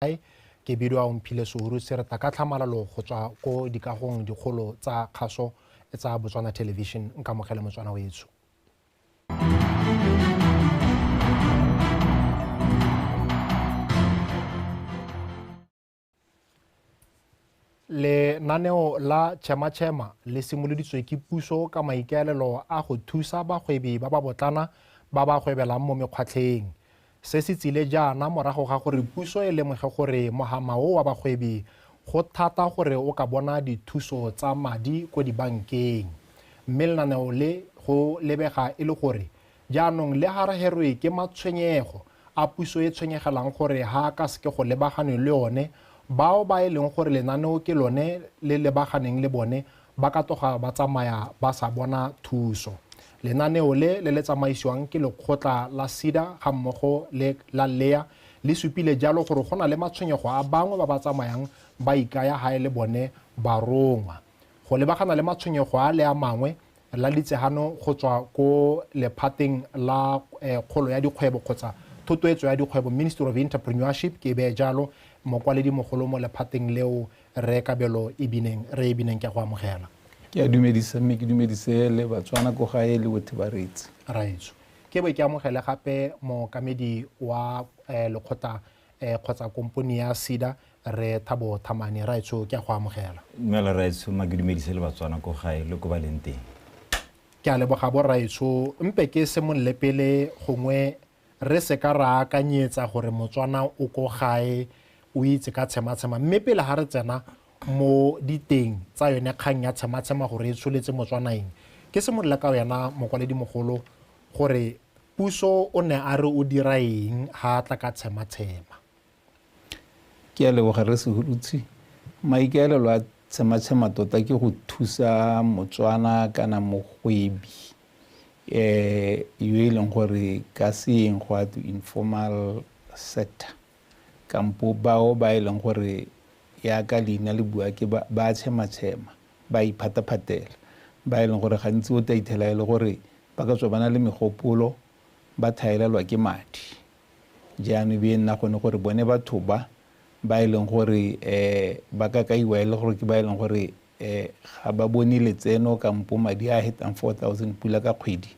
Motshai ke bidiwa o mphile souru se re tla ka tlhamalalo go tswa ko dikagong dikgolo tsa kgaso tsa botswana television nkamogele motswana wetsho Lenaneo la Tšhema Tšhema le simoloditswe ke puso ka maikaelelo a go thusa bagwebi ba ba botlana ba ba gwebelang mo mekgwatlheng. Se se tsile jaana morago ga gore puso e lemoge gore mogama o wa bagwebi go thata gore o ka bona dithuso tsa madi ko dibankeng. Mme lenaneo le go lebega e le gore Jaanong le ga re herwe ke matshwenyego a puso e tshwenyegelang gore ga a ka seke go lebaganwe le one, bao ba e leng gore lenaneo ke lone le lebaganeng le bone ba ka tloga ba tsamaya ba sa bona thuso. Lenaneo le le le tsamaisiwang ke lekgotla la SEDA ga mmogo le la LEA le supile jalo gore go na le matshwenyego a bangwe ba ba tsamayang ba ikaya ga e le bone barongwa. go lebagana le matshwenyego a le a mangwe la litsehano go tswa ko lephateng la eh, kgolo ya dikgwebo kgotsa thotoetso ya dikgwebo ministry of entrepreneurship ke e beye jalo mokwaledi mogolo mo lephateng leo re kabelo e bineng re e bineng ke go amogela ke a dumedisa mme ke dumedise le batswana ko gae le bothe ba reetsi raetso ke be ke amogele gape mookamedi wa eh, lekgotla eh, kgotsa komponi ya sida re thabo thamane raetsho ke a go amogela dumela raetsho ma ke dumedise le batswana ko gae le ko ba leng teng ke a leboga bo raetsho mpe ke semolole pele gongwe re se ka ra akanyetsa gore motswana o ko gae o itse ka tshematshema mme pele ga re tsena mo diteng tsa yone kgang ya tshematshema gore e tsholetse motswanaeng ke simolola ka wena mokwaledi mogolo gore puso o ne a re o dira eng ha a tla ka tshematshema. Ke a leboga Rre Sehurutshe. Maikaelelo a tshematshema tota ke go thusa Motswana kana mogwebi eh yo e leng gore ka seeng go a to informal sector Kampo bao ba e leng gore yaka leina le bua ke ba ba tshema-tshema, ba a iphataphatela, ba e leng gore gantsi o tla itlhela e le gore ba ka tswa ba na le megopolo, ba thaelelwa ke madi. Jaanong e be e nna gone gore bone batho ba ba e leng gore um ba ka kaiwa e le gore ke ba e leng gore um ga ba bone letseno kampo madi a hetang four thousand pula ka kgwedi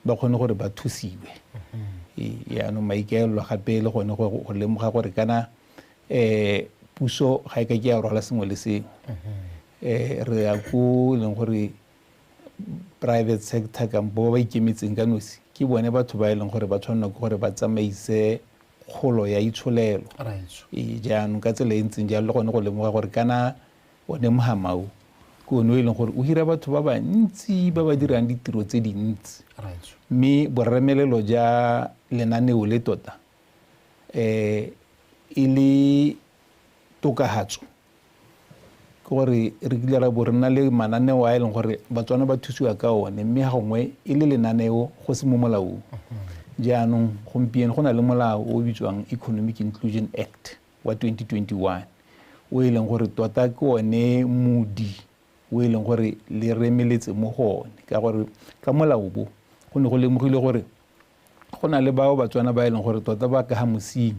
ba kgone gore ba thusiwe mm-hmm. yaanong maikaelelo gape le gone gore go lemoga gore kana um puso ga e ka ke ya rwala sengwe le sengwe um re ya ko e leng gore private sector kampo ba ba ikemetseng ka nosi ke bone batho ba e leng gore ba tshwanela ke gore ba tsamaise kgolo ya itsholelo ee, jaanong ka tsela e ntseng jalo le gone go lemoga gore kana O ne Mhamau ke one o e leng gore o hira batho ba bantsi ba ba dirang ditiro tse dintsi mme boremelelo ja lenaneo le tota um e le tokahatso ke gore re kile ra bo re na le mananeo a e leng gore batswana ba thusiwa ka one mme ga gongwe e le lenaneo go se mo molaong jaanong gompieno go na le molao o o bitswang economic inclusion act wa 2021 o e leng gore tota ke one modi o e leng gore le remeletse mo go one ka gore ka molao bo go ne go lemogile gore go na le bao batswana ba e leng gore tota ba ka ga mosing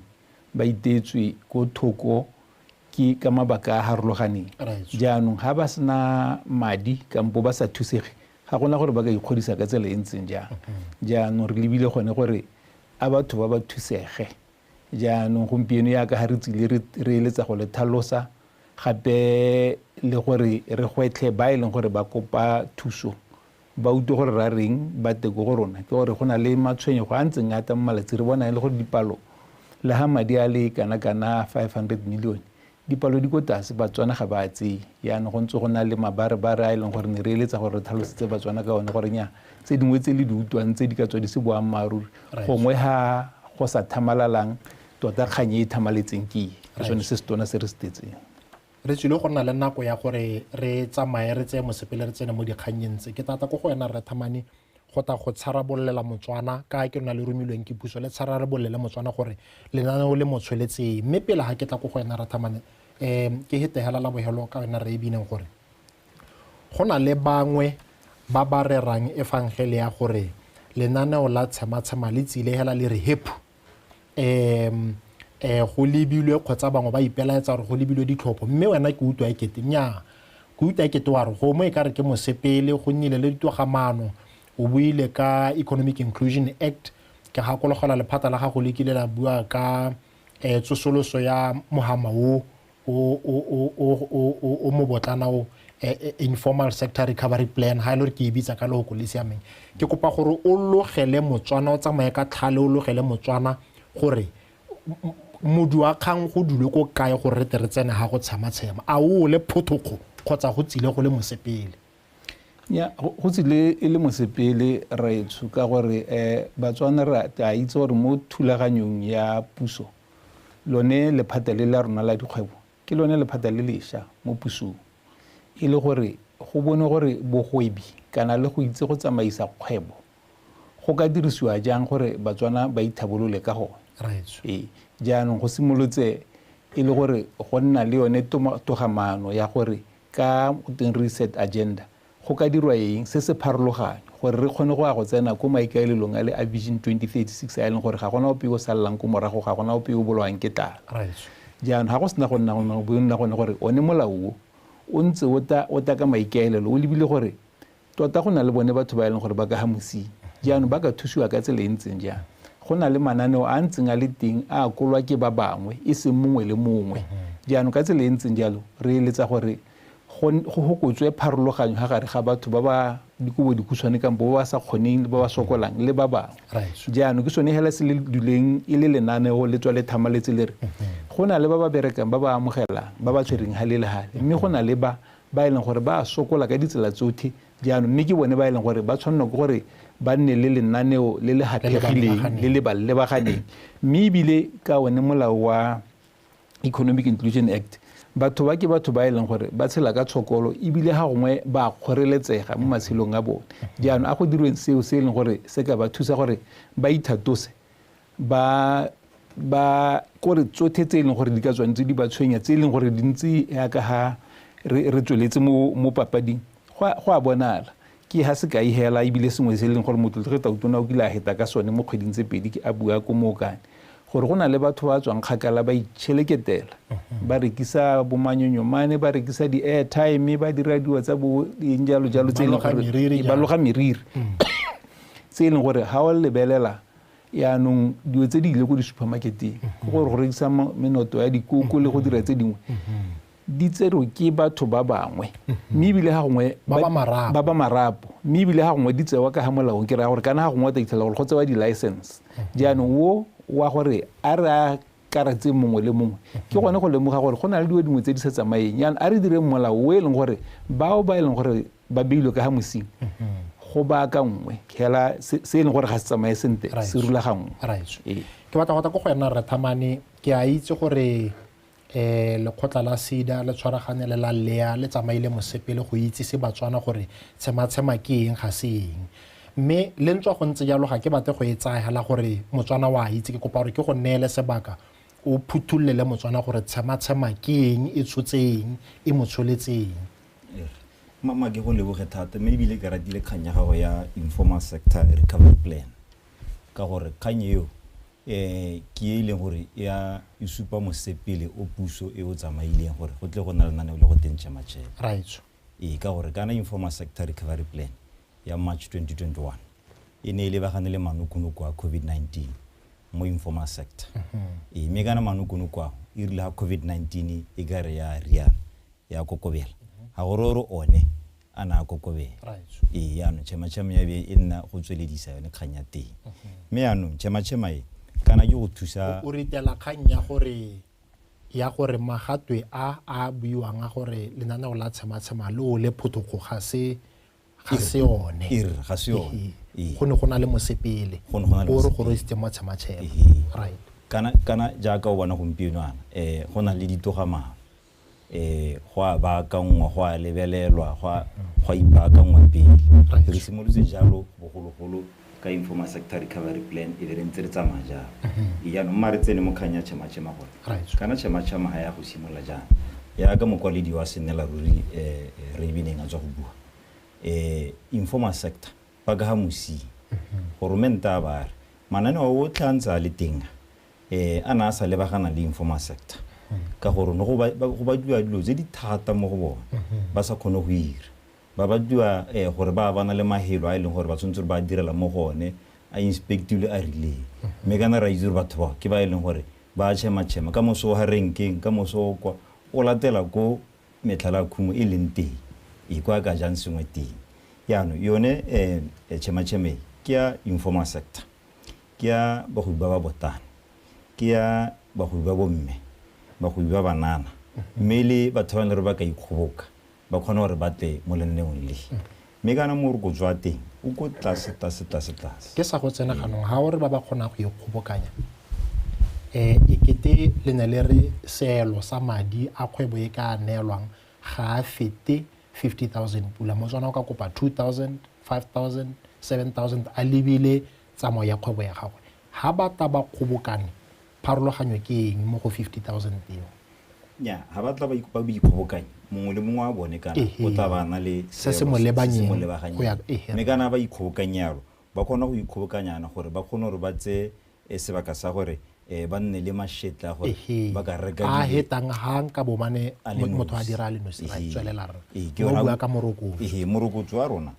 ba itetswe ko thoko ke ka mabaka a harologaneng jaanong ga ba sena madi kampo ba sa thusege ga gona gore ba ka ikgodisa ka tsela e ntseng jang jaanong re lebile gone gore a batho ba ba thusege Jaanong gompieno yaka ga re tsile re eletsa go le thalosa gape le gore re gwetlhe ba e leng gore ba kopa thuso ba utlwe gore ra reng ba teko go rona ke gore go na le matshwenyego a ntseng ata mo malatsi re bona e le gore dipalo le ga madi a le kana kana 500 million Dipalo di ko tase, Batswana ga ba tseye. Jaanong go ntse go na le mabarebare a e leng gore ne re eletsa gore re tlhalosetse Batswana ka one gore nya tse dingwe tse le di utlwang tse di ka tswa di se boammaaruri gongwe ha go sa thamalalang tota kgang e e thamaletseng ke e ke sone se se tona se re se tetseng. Re tswile go nna le nako ya gore re tsamaye re tseye mosepele re tsene mo dikgannyeng tse. Ke tla tla ko go wena Rre Thamane. go ta go tsharabolela motswana ka ke lona le romilweng ke puso le tshara re bolele motswana gore lenaneo le mo tsholetseng mme pele ga ke tla ko go wena rathamane um ke hetegela la bogelo ka wena re e bineng gore go na le bangwe ba ba rerang efangele ya gore lenaneo la tshematshema le tsile hela le re hephu um eh go lebilwe kgotsa bangwe ba ipelaetsa gore go lebilwe ditlhopho mme wena ke utlwa ekete nyaa ke utlwa ekete wa re gomo e ka re ke mosepele go nnile le ditogamaano o buile ka economic inclusion act ke gakologelwa lephata la gago le kile la bua ka um tsosoloso ya mogama o o mobotlana o informal sector recovery plan ha e le gore ke e bitsa ka leoko le siameng ke kopa gore o logele motswana o tsamaye ka tlhale o logele motswana gore modu wa kgang go dule ko kae gore re tere tsene ga go tshema tshema a o le photokgo kgotsa go tsile go le mosepele ya go tsile e le mosepele raetsho ka gore um batswana re a itse gore mo thulaganyong ya puso lone lephata le la rona la dikgwebo ke lone lephata le lesha mo pusong e le gore go bone gore bogwebi kana le go itse go tsamaisa kgwebo go ka dirisiwa jang gore batswana ba ithabolole ka gone ee jaanong go simolotse e le gore go nna le yone togamaano ya gore ka gotweng reset agenda, go ka dirwa eng se se pharologanyo gore re kgone go ya go tsena ko maikaelelong a le a Vision 2036 a e leng gore ga gona ope yo o salelang ko morago, ga gona ope yo o bolawang ke tlala. Jaanong ga go sena go nna gone go bo nna gone gore one molao o o ntse o tla o tla ka maikaelelo o lebile gore Tota go na le bone batho ba e leng gore ba ka ga mosing. Jaanong ba ka thusiwa ka tsela e ntseng jang? Go na le mananeo a ntseng a le teng a a kolwa ke ba bangwe e seng mongwe le mongwe. Jaanong ka tsela e ntseng jalo re eletsa gore go go hokotswe pharologanyo ga gare ga batho ba ba dikobo dikhutshwane kampo ba ba sa kgoneng le ba ba sokolang le ba bangwe. Right. Jaanong ke sone hela se le duleng e le lenaneo le tswa le thamaletse le re go na le ba ba berekang ba ba amogelang ba ba tshwereng hale le hale mme go na le ba ba e leng gore ba a sokola ka ditsela tsotlhe jaanong mme ke bone ba e leng gore ba tshwanelwa ke gore ba nne le lenaneo le le gathegileng le le ba lebaganeng mme ebile ka one molao wa economic inclusion act batho ba ke batho ba e leng gore ba tshela ka tshokolo ebile ga gongwe ba kgoreletsega mo matshelong a bone jaanong a go dirweng seo se e leng gore se ka ba thusa gore ba ithatose ba ba kore tsotlhe tse e leng gore di ka tswang tse di ba tshwenya tse e leng gore di ntse yaka ha re re tsweletse mo mo papading go a- go a bonala ke ha se ka e hela ebile sengwe se e leng gore motlotlege tautona o kile a heta ka sone mo kgweding tse pedi ke a bua ko mookane gore go na le batho ba tswang kgakala ba itšheleketela ba rekisa bomanyonyomane ba rekisa di-airtime ba dira dilo tsa bo eng jalo jalo tse e leng Ba loga meriri gore jalo. ba loga meriri tse e leng gore ga o lebelela Yaanong dilo tse di ile ko di-supermarketeng go gore go rekisa menoto ya dikoko le go dira tse dingwe di tserwe ke batho ba bangwe mme ebile ga gongwe Ba ba marapo. ba ba marapo mme ebile ga gongwe di tsewa ka ga molaong ke raya gore kana ga gongwe o tla itlhela gore go tsewa di-license jaanong wo wa gore a re a karatse mongwe le mongwe ke gone go lemoga gore go na le dilo dingwe tse di sa tsamaeng yana a re direng molao o e leng gore bao ba e leng gore ba beilwe ka ga mosing go baaka nngwe hela se e leng gore ga se tsamaye sentle se rulaganngwe ee. ke batla gota ko go yena rethamane ke a itse gore um lekgotla la sida le tshwaragane le la lea le tsamaile mosepele go itsise batswana gore tshematshema ke eng ga se eng Mme le ntswa go ntse jalo ga ke batle go e tsaya hela gore Motswana wa itse, ke kopa gore ke go neele sebaka o phuthullele Motswana gore tshematshema ke eng, e tshotse eng, e mo tsholetse eng. Mama ke go leboge thata mme ebile ke ratile kgang ya gago ya informal sector recovery plan ka gore kgang eo um ke e e leng gore ya e supa mosepele o puso e o tsamaileng gore go tle go na lenaneo le go teng tšematšhema ee ka gore kana informal sector recovery plan ya March 2021 e ne e lebagane le manokonoko a COVID-19 mo informal sector mm-hmm. ee mme kana manokonoko ao e rile ga COVID-19 e ka re ya riana ya kokobela mm-hmm. ga gore ore one a ne a kokobela ee yaanong chemachema ya be e nna go tsweledisa yone kgang ya teng mm-hmm. mme yaanong chemachema e kana ke go thusa o ritela kgang ya gore ya gore magatwe a a buiwang a gore lenaneo la tshematshema le o le phothogo ga se ga se one er ga se one ee. go ne go na le mosepele o re go roisitse matshematshema right kana kana jaaka o bona gompieno ana eh go na le ditogamaano eh go a baakangwa go a lebelelwa go a go a ipaakangwa pele re simolotse jalo bogologolo ka informal sector recovery plan e be re ntse re tsamaya jang e jaanong mma re tsene mo kgang ya chemachema gore Right. kana chemachema ga ya go simolola jang yaka mokwaledi wa senela ruri um raveneng a tswa go bua um informal sector ba ka ga mosing goromente a ba re mananeo otlhe a ntse a le teng a, eh a na a sa lebagana le informal sector ka gore ne go ba- ba- go badiwa dilo tse di thata mo go bone ba sa kgone go ira Ba batliwa gore ba bana le mahelo a e leng gore ba tshwanetse gore ba direla mo go one, a inspectilwe a rileng. Mme kana re a itse gore batho bao ke ba e leng gore ba a tšhema-tšhema. Ka moso o ha renkeng, ka moso o kwa, o latela ko metlhala ya khumo e leng teng, ee, ko a ka jang sengwe teng. Jaanong yone tšhema-tšhema e, ke ya informal sector, ke ya bagwebi ba ba botana, ke ya bagwebi ba bomme, bagwebi ba banana, mme le batho ba e leng gore ba ka ikgoboka. ba kgone gore ba tle mo lenaneong le. Mme kana morokotso wa teng o ko tlase, tlase, tlase, tlase. Ke sa go tsena ganong, ga o re ba ba kgonang go ikgobokanya, um e kete le ne le re seelo sa madi a kgwebo e ka neelwang ga a fete fifty thousand pula. Motswana o ka kopa two thousand, five thousand, seven thousand a lebile tsamao ya kgwebo ya gagwe. Ga ba ta ba kgobokane Pharologanyo ke eng mo go 50,000 eo? Nnyaa, ga ba tla ba ikgobokanya, mongwe le mongwe wa bone kana o tla ba a na le se se mo lebaganyeng. Mme kana ba ikgobokanye yalo, ba kgona go ikgobokanyana gore ba kgone gore ba tseye sebaka sa gore ba nne le mašetla a gore ba ka reka dilo. A hetang ha nka bo mane motho a dira a le nosi, ra tswelela rra. Ke yona, morokotso wa rona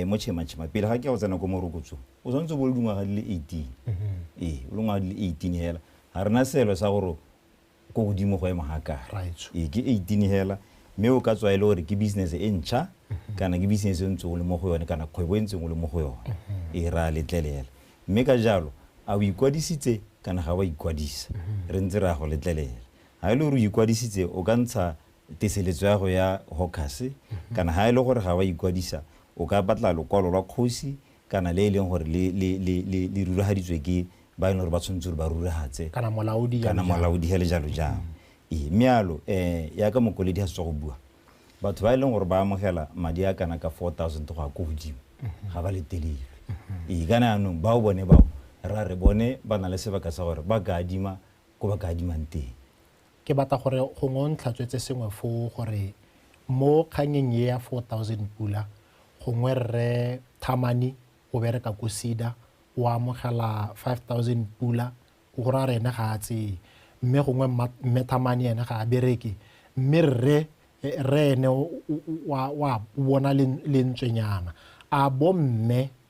mo Chema Chema, pele ga ke ya go tsena ko morokotsong, o tshwanetse o bo le dingwaga di le eighteen ee o le ngwaga di le eighteen hela ga rena selo sa gore ko godimo go ema ga kare ee ke eighteen hela mme o ka tswa e le gore ke business e ntšha kana ke business e ntseng o le mo go yone kana kgwebo e ntseng o le mo go yone ee ra letlelela mme ka jalo a o ikwadisitse kana ga wa ikwadisa re ntse re ya go letlelela ga e le gore o ikwadisitse o ka ntsha teseletso ya go ya hokase kana ga e le gore ga wa ikwadisa o ka batla lokwalo lwa kgosi kana le e leng gore le, le, le, le, le ruragaditswe ke ba e leng gore ba tshwanetse gore ba ruragatse kana molaodi kana molaodi ga le jalo jang ee mme yalo um yaka mokwaledi ga se tswa go bua batho ba e leng gore ba amogela madi a kana ka four thousand go ya ko godimo ga ba letelelwe ee kana yaanong bao bone bao ra re bone ba na le sebaka sa gore ba ka adima ko ba ka adimang teng ke batla gore gongwe o ntlhatswetse sengwe foo gore mo kgangeng e ya 4000 pula gongwe rre thamani o bereka ko sida o amogela 5000 pula o gore a re ene ga a tseye mme gongwe mme thamani ene ga a bereke mme rre rre ene wa bona lentswenyana a bomme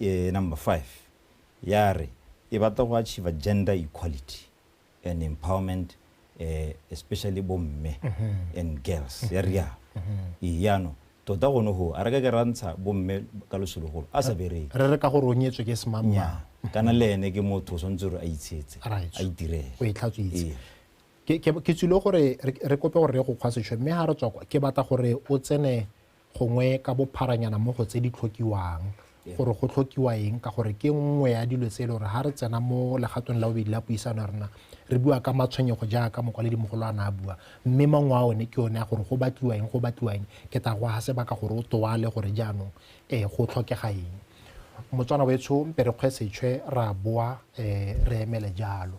e, number five ya re e batla go achieve gender equality and empowerment eh, especially bo mme and girls ya rialo ee yaanong tota gone go a re ka ke ra ntsha bo mme ka losologolo a sa bereke re re ka gore o nyetswe ke semamma nnyaa kana le ene ke motho o tshwanetse gore a itshetse Right. a itirele o e tlhatswitse Ee. ke ke- ke tsile gore re- re kope gore re go kgwa sešwe mme ga re tswa kwa ke batla gore o tsene gongwe ka bopharanyana mo go tse di tlhokiwang gore go tlhokiwa eng ka gore ke nngwe ya dilo tse e le gore ga re tsena mo legatong la bobedi la puisano ya rona re bua ka matshwenyego jaaka mogolo a ne a bua mme mangwe a one ke one a gore go batliwa eng go batliwa eng ke tla go ga sebaka gore o toale gore jaanong um go tlhokega eng motswana wetsho mpe re kgwe setšhwe ra boa um re emele jalo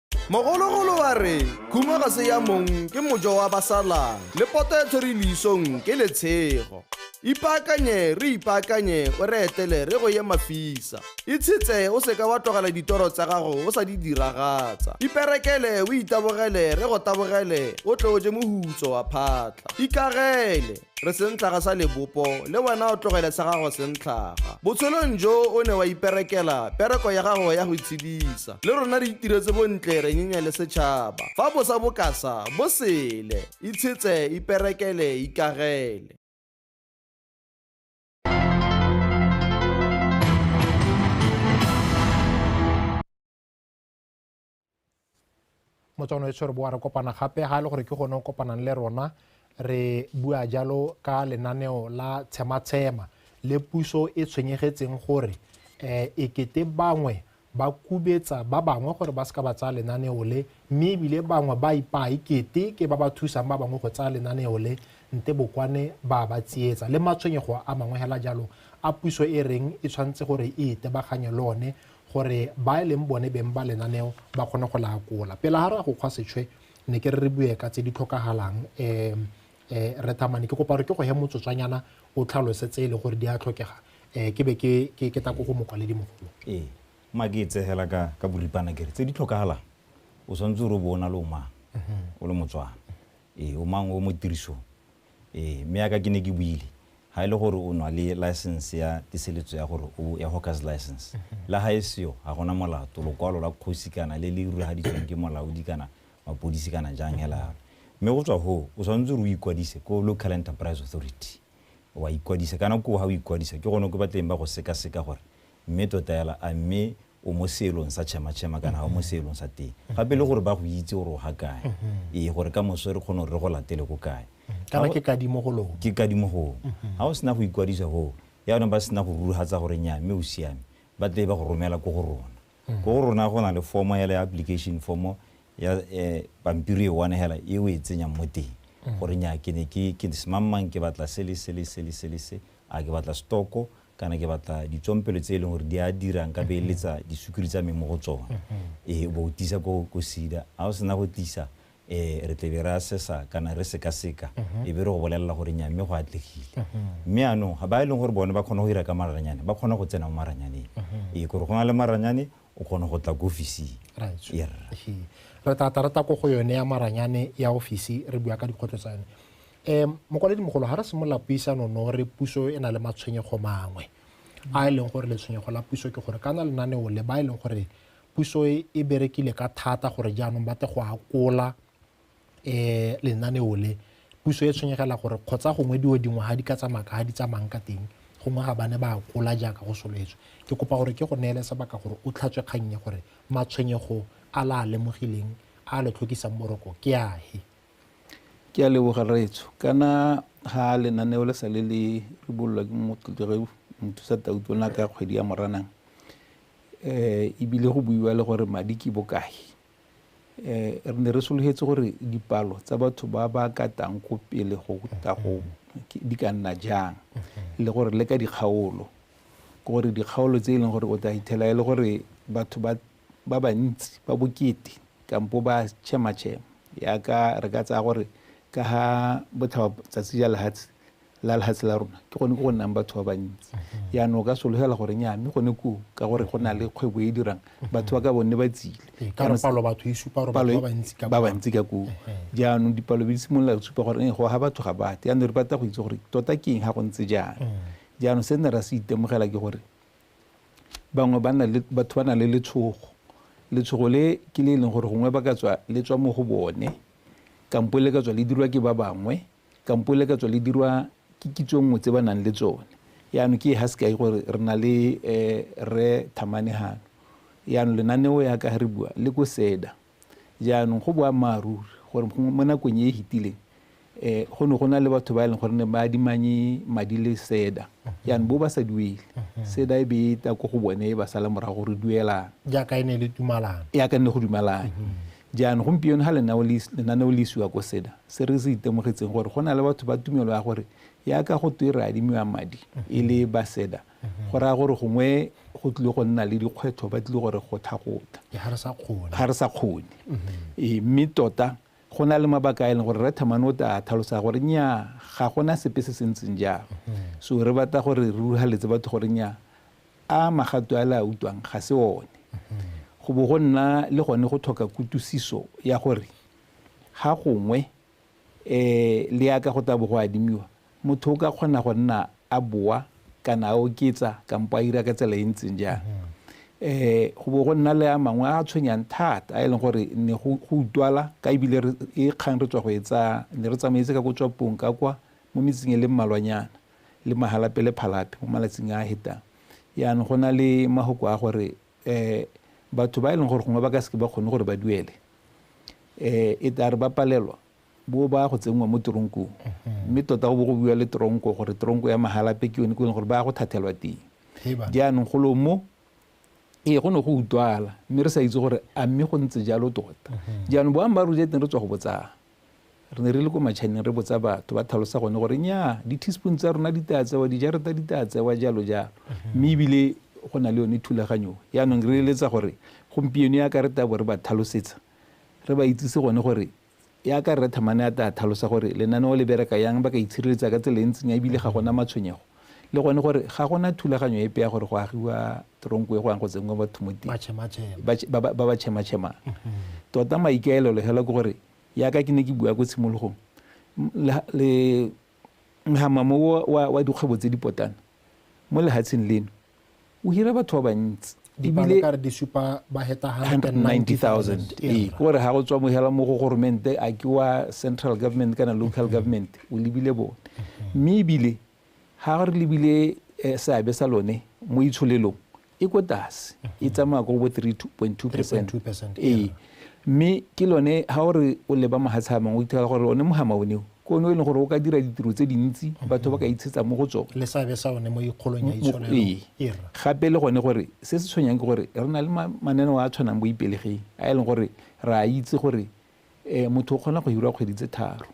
mogologolo wa re khuma ga se ya mong ke mojo wa basalang le poto e tshwere leisong ke letshego ipaakanye re ipaakanye o re etele re go ye mafisa itshetse o seka wa tlogela ditoro tsa gago o sa di diragatsa iperekele o itabogele re go tabogele o tle o je mohutso wa phatla ikagele re sentlhaga sa lebopo le wena o tlogele sa gago sentlhaga botshelong jo o ne wa iperekela pereko ya gago ya go itshedisa le rona re itiretse bontle re nyenya le setšhaba fa bosa bokasa bo sele itshetse iperekele ikagele motswana e tshwere boa re kopana gape ga e le gore ke gone o kopanang le rona re bua jalo ka lenaneo la tshematshema le puso e tshwenyegetseng gore um ekete bangwe ba kubetsa ba bangwe gore ba seka ba tsaya lenaneo le mme ebile bangwe ba ipaa ekete ke ba ba thusang ba bangwe go tsaya lenaneo le nte bokwane ba ba tsietsa le matshwenyego a mangwe hela jalo a puso e reng e tshwanetse gore e itebaganye le one gore ba e leng bone beng ba lenaneo ba kgone go la akola pele ga re ya go kgwa setšhwe ne ke re re bue ka tse di tlhokagalang um um re thamane ke kopa gore ke go he motsotswanyana o tlhalose tse e le gore di a tlhokega um ke be ke tako go mokwaledi mogolo ee ma ke e tsegela ka ka boripana kere tse di tlhokagalang o tshwanetse o re o bo o na le o mang mhm. o le motswana ee o mang o mo tirisong Ee, mme yaka ke ne ke buile, ha e le gore o nwa le license ya tiseletso ya gore o ya hawker's license, le ha e seyo, ha gona molato, lokwalo la kgosi kana le le ruruhaditsweng ke molaodi kana mapodisi kana jang hela yalo. Mme go tswa hoo, o tshwanetse gore o ikwadise ko Local Enterprise Authority, wa ikwadisa. Kana koo ha o ikwadisa, ke gone ko ba tleng ba go sekaseka gore mme tota hela a mme o mo seelong sa tšhematšhema kana ga o mo seelong sa teng gape le gore ba go itse gore o ga kae ee gore ka moso re kgone gore re go latele ko kae kana ke kadimo go lone ke kadimo gong ga o sena go ikwadisa goo yaanong ba sena go rurugatsa gore nya mme o siame ba tle ba go romela ko go rona ko go rona go na le formo ya le application formo ya um pampiri e one hela e o e tsenyang mo teng gore nya ke ne ke semangmang ke batla se le se le se le se le se a ke batla stoko kana ke batla ditsompelo tse e leng gore di a dira nka beeletsa disukiri tsa me mo go tsone ee o bo o tisa ko ko sida ga o sena go tlisa um re tlebe re assessa kana re sekaseka e be re go bolelela gore nya mme go atlegile mme anong ga ba e leng gore bone ba kgona go dira ka maranyane ba kgona go tsena mo maranyaneng ee kore go na le maranyane o kgona go tla ko ofising re tla tla re tla ko go yone ya maranyane ya ofisi re bua ka dikgwetlho tsa yone E, mokwaledi mogolo ga re simolola puisano no re puso e na le matshwenyego mangwe a e leng gore letshwenyego la puso ke gore kana lenaneo le ba e leng gore puso e, e berekile ka thata gore jaanong batle go akola um lenaneo le puso e tshwenyegela gore kgotsa gongwe dio dingwe ga di ka tsamaya ka ga di tsamayang ka teng gongwe ga ba ne ba akola jaaka go soletswe ke kopa gore ke go neele sebaka gore o tlhatswe kgannye gore matshwenyego a la a lemogileng a le tlhokisang boroko ke ahe Ke a leboga rraetsho kana ga lenaneo le sa le le ribololwa ke motlotlege mothusa tauto na ka kgwedi ya moranang um ebile go buiwa le gore madi ke bokae um re ne re sologetse gore dipalo tsa batho ba ba katang ko pele go tla go di ka nna jang le gore le ka dikgaolo ke gore dikgaolo tse e leng gore o tla ithela e le gore batho ba ba bantsi ba bokete kampo ba tšhematšhema yaka re ka tsaya gore ka ga botlhaba tsatsi ja lehatshe la lehatshe la rona ke gone ko go nnang batho ba bantsi mhm. yaanong o ka sologela gore nya mme gone koo ka gore go na le mhm. kgwebo e dirang mhm. batho ba ka bone ba tsile e ba bantsi ka koo jaanong dipalo be di simolola go supa gore go ga batho ga bate yaanong re batla go itse gore tota ke eng ga go ntse jaana jaanong se nne ra se itemogela ke gore bangwe ba na le batho ba na le letshogo letshogo le ke le e leng gore gongwe ba ka tswa le tswa mo go bone kampo le ka tswa le dirwa ke ba bangwe kampo le ka tswa le dirwa ke kitso nngwe tse ba nang le tsone yaanong ke ha sekai gore re na le um re thamanegano yaanong lenaneo ya ka re bua le ko seda Jaanong go boammaaruri gore gongwe mo nakong e e fetileng um go ne go na le batho ba e leng gore ne ba adimanye madi le seda jaanong bo ba sa duele seda e be e ta ko go bone e ba sala morago gore duelang jaaka e ne le tumalano jaaka nne go dumalane jaanong gompieno ga lenaneo le isiwa ko seda se re se itemogetseng gore go na le batho ba tumelo ya gore jaaka go twe re adimiwa madi e le ba seda go raya gore gongwe go tlile go nna le dikgwetlho ba tlile gore go thagota ga re sa kgone ee, mme tota go na le mabaka a e leng gore re thamane o ta tlhalosa gore nya ga gona sepe se se ntseng jalo so re batla gore re ruhaletse batho gore nya a magato a le a utlwang ga se one go bo go nna le gone go tlhoka kutusiso ya gore ga gongwe E le yaka go tla bo go adimiwa, motho o ka kgona go nna a boa kana a oketsa kampo a ira ka tsela e ntseng jang. E go bo go nna le a mangwe a tshwenyang thata a e leng gore ne go utwala ka ebile e kgang re tswa go e tsaya ne re tsamaetse ka ko tswapong ka kwa mo metseng e le mmalwanyana le mahalapele phalape mo malatsing a a hetang. Yaanong go na le mahoko a gore um batho ba e leng gore gongwe ba ka seke ba kgone gore ba duele um e tla re ba palelwa bo ba go tsenngwa mo teronkong mhm. mme tota go bo go buiwa le teronko gore teronko ya magalape ke yone ko e leng gore ba ya go thathelwa teng jaanong golo mo ee go ne go utlwala mme re sa itse gore a mme go ntse jalo tota mhm. jaanong boammaaruri ja teng re tswa go botsang Re ne re le ko matšhaneng re botsa batho, ba tlhalosa gone gore nnyaa di-teaspoon tsa rona di taa tsewa, dijareta di taa tsewa, jalo jalo. Mhm. Mme ebile go na le yone thulaganyo yaanong re eletsa gore gompieno ya ka re tabo re ba tlhalosetsa re ba itsise gone gore ya ka rre thamane a taa tlhalosa gore lenaneo le bereka yang ba ka itshireletsa ka tsela e ntseng ya ebile ga gona matshwenyego le gone gore ga gona thulaganyo epe ya gore go agiwa tronko e go yang go tsenngwa batho mo teng ba ba chema-chemang mm-hmm. tota maikaelelo fela ke gore yaka ke ne ke bua ko tshimologong le ngamamo wa dikgwebo tse di potana mo lehatsheng leno o hira batho ba bantsi ebile ka re di supa ba heta 190000 ee ke gore ga go tswa mohela mo go goromente a ke wa central government kana local mm-hmm. government o lebile bone mm-hmm. mme ebile ga re lebile eh, seabe sa lone mo itsholelong e ko tlase e mm-hmm. tsamaya ko bo 3.2 percent ee Mme ke lone ha o re o leba mahatshe a mangwe o ithola gore one mohama one o ke one o e leng gore o ka dira ditiro tse dintsi batho ba ka itshetsa mo go tsone le seabe sa one mo ikgolong ya itsholelo ira gape le gone gore se se tshwenyang ke gore re na le mananeo a tshwanang bo ipelegeng a e leng gore re a itse gore um motho o kgona go hirwa kgwedi tse tharo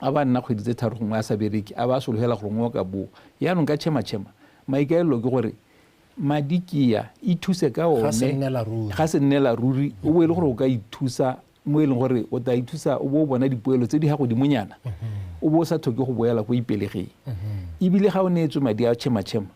a ba nna kgwedi tse tharo gongwe a sa bereke a ba a sologela gore ngwe o ka boa yaanong ka tšhema tšhema maikaelelo ke gore Madi kea, ithuse ka one. Ga se nnela ruri. Ga se nnela ruri, o bo e le gore o ka ithusa mo e leng gore o ta ithusa o bo o bona dipoelo tse di ga godimonyana o bo o sa tlhoke go boela ko ipelegeng ebile ga o neetswe madi a tšhematšhema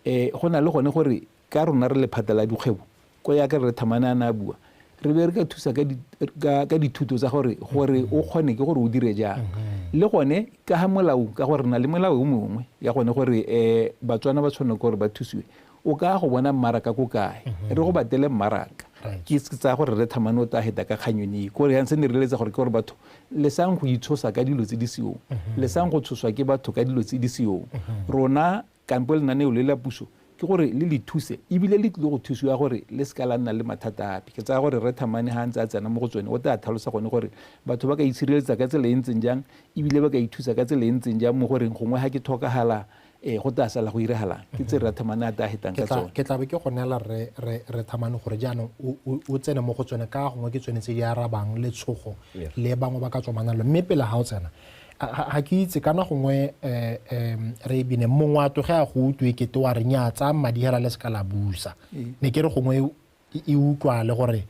um go na le gone gore ka rona re lephata la dikgwebo Ko ya ka Rre Thamane a ne a bua, re be re ka thusa ka di, ka, ka dithuto tsa gore, gore o kgone ke gore o dire jang. Le gone, ka ha molao, ka gore re na le melao e mongwe ya gone gore um Batswana ba tshwanela ke gore ba thusiwe. O ka ya go bona mmaraka ko kae, re go batele mmaraka. Ke ke tsaya gore Rre Thamane o tla heta ka kgang yone e. Ko re yang, se ne re eletsa gore ke gore batho le sang go itshosa ka dilo tse di seong, le sang go tshoswa ke batho ka dilo tse di seong. Rona Kampo lenaneo le la puso ke gore le le thuse e bile le tlile go thusiwa gore le se ka la nna le mathata ape. Ke tsaya gore Rre Thamane ga a ntse a tsena mo go tsone o tlaa tlhalosa gone gore batho ba ka itshireletsa ka tsela e ntseng jang e bile ba ka ithusa ka tsela e ntseng jang mo goreng gongwe ga ke thokagala um go tlaa sala go iragalang. Ke tse Rra Thamane a tlaa hetang ka tsone. Ke tla be ke go neela Rre Thamane gore jaanong o tsene mo go tsone ka gongwe ke tsone tse di arabang letshogo le bangwe ba ka tswamanang lone. Mme pele ga o tsena ga ke itse kana gongwe um re e bine mongwe a tloge a go utlwe kete wa re nya tsaya madi hela le se ka la busa ee. ne ke re gongwe e, e utlwale gore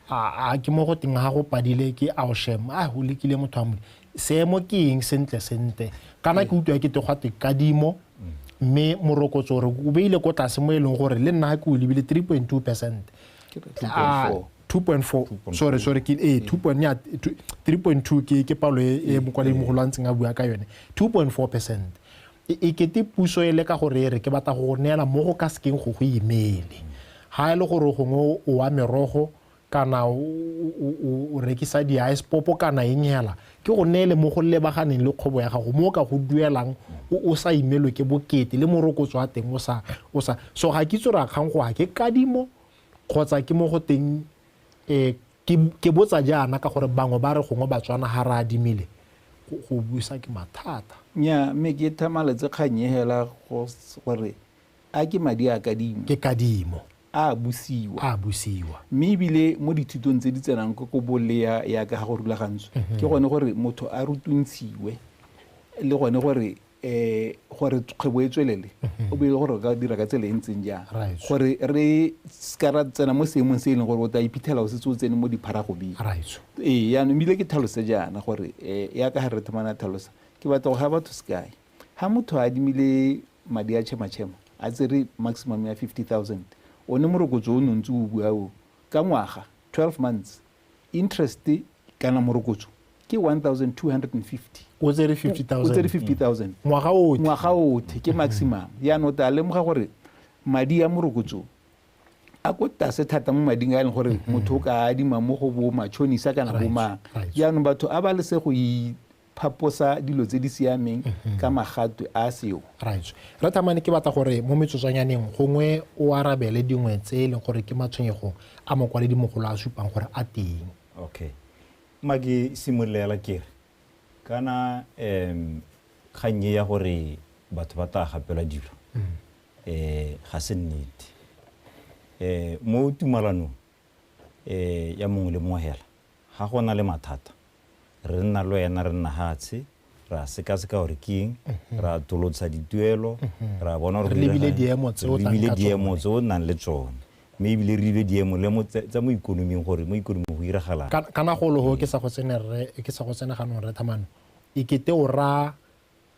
a ke mo go teng ga go padile ke ao shem a o lekile motho a mole seemo ke eng sentle sentle kana ke ee. utlwa kete gwa te kadimo mme morokotso gore o beile ko tlase mo e leng gore le nna ga ke o lebile three point two percent Ah, 2.4 sorry sorry ke ee 3.2 ke ke palo e, e mokwaledi mogolo a ntseng a bua ka yone 2.4 percent e, e kete puso e le ka gore e re ke batla go neela mo go ka sekeng go go imele ga e le gore gongwe o wa merogo kana o rekisa di-ice popo kana eng hela Ke go neele mo go lebaganeng le kgobo ya gago, mo o ka go duelang o o sa imelwe ke bokete le morokotso wa teng o sa, o sa. So ga ke itse gore a kgang go a ke kadimo kgotsa ke mo go teng um ke, ke botsa jaana ka gore bangwe ba re gongwe Batswana ga re adimile go, go busa ke mathata. Nnyaa, mme ke thamaletse kgang e hela go, gore a ke madi a kadimo. Ke kadimo. a a busiwa. A a busiwa. Mme ebile mo dithutong tse di tsenang ko ko bolea ya ka ga go rulagantswe mhm. ke gone gore motho a rutuntshiwe le gone gore um gore kgwebo e tswelele mhm. o bele gore o ka dira ka tsela e ntseng jang gore re seka ra tsena mo seemong se e leng gore o tla iphitlhela o setse o tsene mo dipharagobeng ee yaanong ebile ke tlhalose jaana gore um yaka ga re thomana tlhalosa ke batla go ga batho sekae Ha motho a adimile madi a tšhematšhema a tsere maximum ya 50,000, one morokotso o ne o ntse o bua o, ka ngwaga, 12 months, interest kana morokotso ke 1,250. O tsere 50,000. O tsere 50,000. Ngwaga otlhe. Ngwaga otlhe, ke maximum. Jaanong o tla lemoga gore madi a morokotso a ko tlase thata mo mading a e leng gore motho o ka adima mo go bo matšhonisa kana bo mang. Jaanong batho a ba lese go phaposa dilo tse di siameng ka magatwe a seo. Right. Re thamane ke batla gore mo metsotswanyaneng gongwe o arabele dingwe tse e leng gore ke matshwenyego a mokwaledi mogolo a supang gore a teng. Okay. Ma ke simololela ke re kana um kgang e ya gore batho ba tla gapelwa dilo um ga se nnete. Um mo tumalanong um ya mongwe le mongwe hela Ha go na le mathata, re nna le ena, re nna hatshe, re a sekaseka gore ke eng, re a tolotsa dituelo, re a bona gore go direga eng, re lebile diemo tse o nnang le tsone, mme ebile re lebile diemo le mo tsa mo ikonoming gore mo ikonoming go diragalang. Kana golo ho ke sa go tsene rre, ke sa go tsene ganong rre Thamano, e kete o raya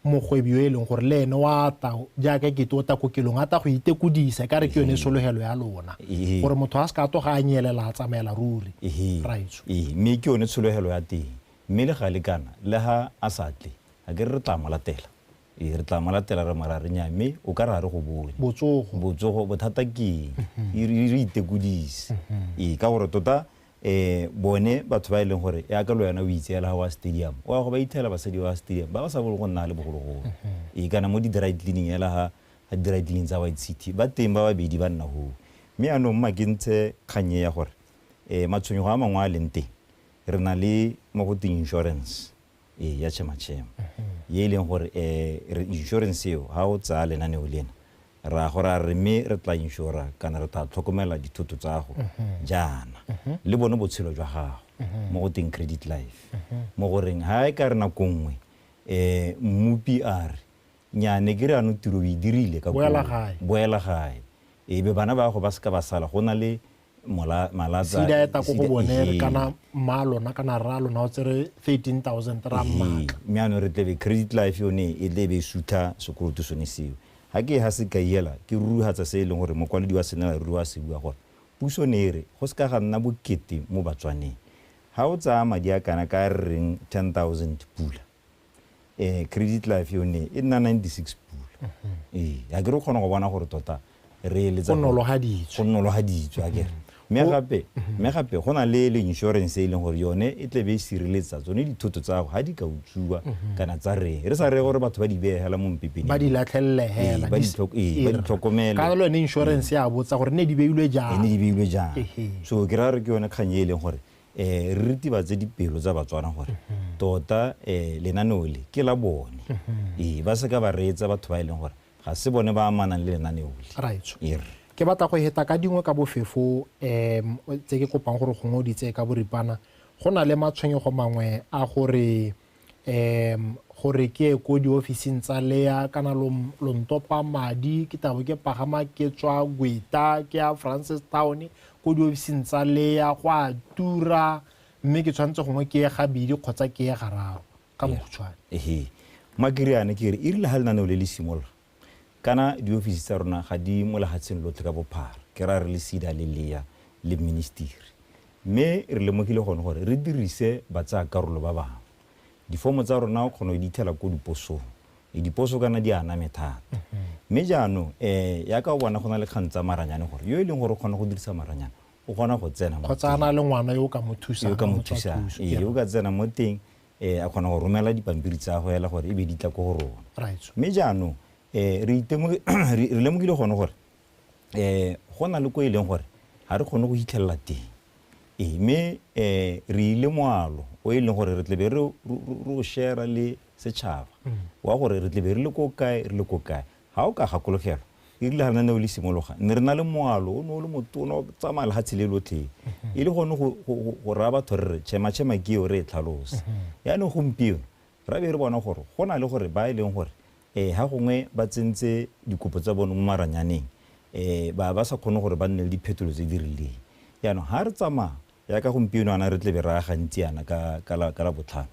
mogwebi yo e leng gore le ene wa ta jaaka e kete o ta kokelong a ta go itekodisa e ka re ke yone sologelo ya lona Ehe. gore motho a se ka a toga a nyelela a tsamaela ruri Ehe. raitso Ee, mme ke yone tshologelo ya teng mme le gale kana le ha a sa tle a ke re re tla mo latela ee re tla mo latela re mo ra re nya mme o ka re ga re go bone botsogo botsogo bothata ke eng e re re itekodise ee ka gore tota Ee, bone batho ba e leng gore yaka le wena o itseela ga wa stadium o ya go ba ithela basadi ba stadium ba ba sa bolo go nna le bogologolo ee kana mo di-dry cleaning ela ga ga di-dry cleaning tsa white city ba teng ba babedi ba nna hoo mme yaanong mma ke ntshe kgang e ya gore um matshwenyego a mangwe a leng teng re na le mo go teng insurance ee ya chemachema ye e leng gore um re insurance eo ga o tsaya lenaneo lena ra go ra re mme re tla insura kana re tla tlhokomela dithoto tsa go jaana le bone botshelo jwa gago mo go teng credit life mo goreng ga e ka re nako nngwe um mmupi a re nyane ke re ano tiro o e dirile ka boela gae e be bana ba go ba seka ba sala go na le sida eta ko go bone kana mma lona kana rra lona o tsere 13000 ra mmaka mme ano re tlebe credit life yone e tlebe e sutha sekoloto sone seo ga ke ga se ka iela ke rurugatsa se e leng gore mokwaledi wa senela ruri wa se bua gore puso ne e re go se ka ga nna bokete mo batswaneng ga o tsaya madi a kana ka re reng 10000 pula um credit life yone e nna ninety-six pula ee ga ke re kgona go bona gore tota re eletsa go nologaditswe a kere mme gape mme gape go na le le insurance e leng gore yone e tle be e sireletsa tsone dithoto tsa gago ga di ka utsuwa mhm. kana tsa reng re sa reye gore batho ba di beegela mo mpepeng ba di latlhelele hela ee, ba ee, di tlhokomele ka lo ne insurance ya botsa gore ne di beilwe jang ne di beilwe jang so ke ra re ke yone kgang e leng gore um re ritibatse dipelo tsa Batswana gore tota um lenaneo le ke la bone ee ba seka ba reetsa batho ba e leng gore ga se bone ba amanang le lenaneo le ee rre ke batla go heta ka dingwe ka bofefo um tse ke kopang gore gongwe o di tseye ka boripana go na le matshwenyego mangwe a gore um gore ke ye ko diofising tsa lea kana lo ntopa madi ke tabo ke pagama ke tswa gweta ke ya francis town ko diofising tsa lea go a tura mme ke tshwanetse gongwe ke ye gabedi kgotsa ke ye gararo ka bokhutshwane makiriane ke re e rile ga lenaneo le le simolola Kana diofisi tsa rona ga di mo lehatsheng lotlhe ka bophara, ke raya re le SEDA le lea le ministiri. Mme re lemogile gone gore re dirise batsaakarolo ba bangwe. Difomo tsa rona o kgona go di thela ko diposong. E diposo kana di aname thata. Mme jaanong e yaka o bona go na le kgang tsa maranyane gore yo e leng gore o kgona go dirisa maranyane o kgona go tsena mo teng. Kgotsa a na le ngwana yo o ka mo thusang. Yo o ka mo thusang. Ee, yo o ka tsena mo teng um a kgona go romela dipampiri tsa go ela gore e be di tla ko go rona mme jaanong um re lemogile gone gore um go na le ko e leng gore ga re kgone go fitlhelela teng ee mme um re ile moalo o e leng gore re tlebe re o share-a le setšhaba wa gore re tlebe re le ko kae re le ko kae Ga o ka gakologela, e rile ga lenaneo le simologa, ne re na le moalo o ne o le motona o tsamaya lehatshe le lotlhe, e le gone go raya batho re re Chema-Chema ke eo re e tlhalose. Jaanong gompieno ra be re bona gore go na le gore ba e leng gore ga gongwe ba tsentse dikopo tsa bone mo maranyaneng ba ba sa kgone gore ba nne le diphetolo tse di rileng. Jaanong ga re tsamaya jaaka gompieno jaana re tlebe re ya gantsi jaana ka Labotlhano,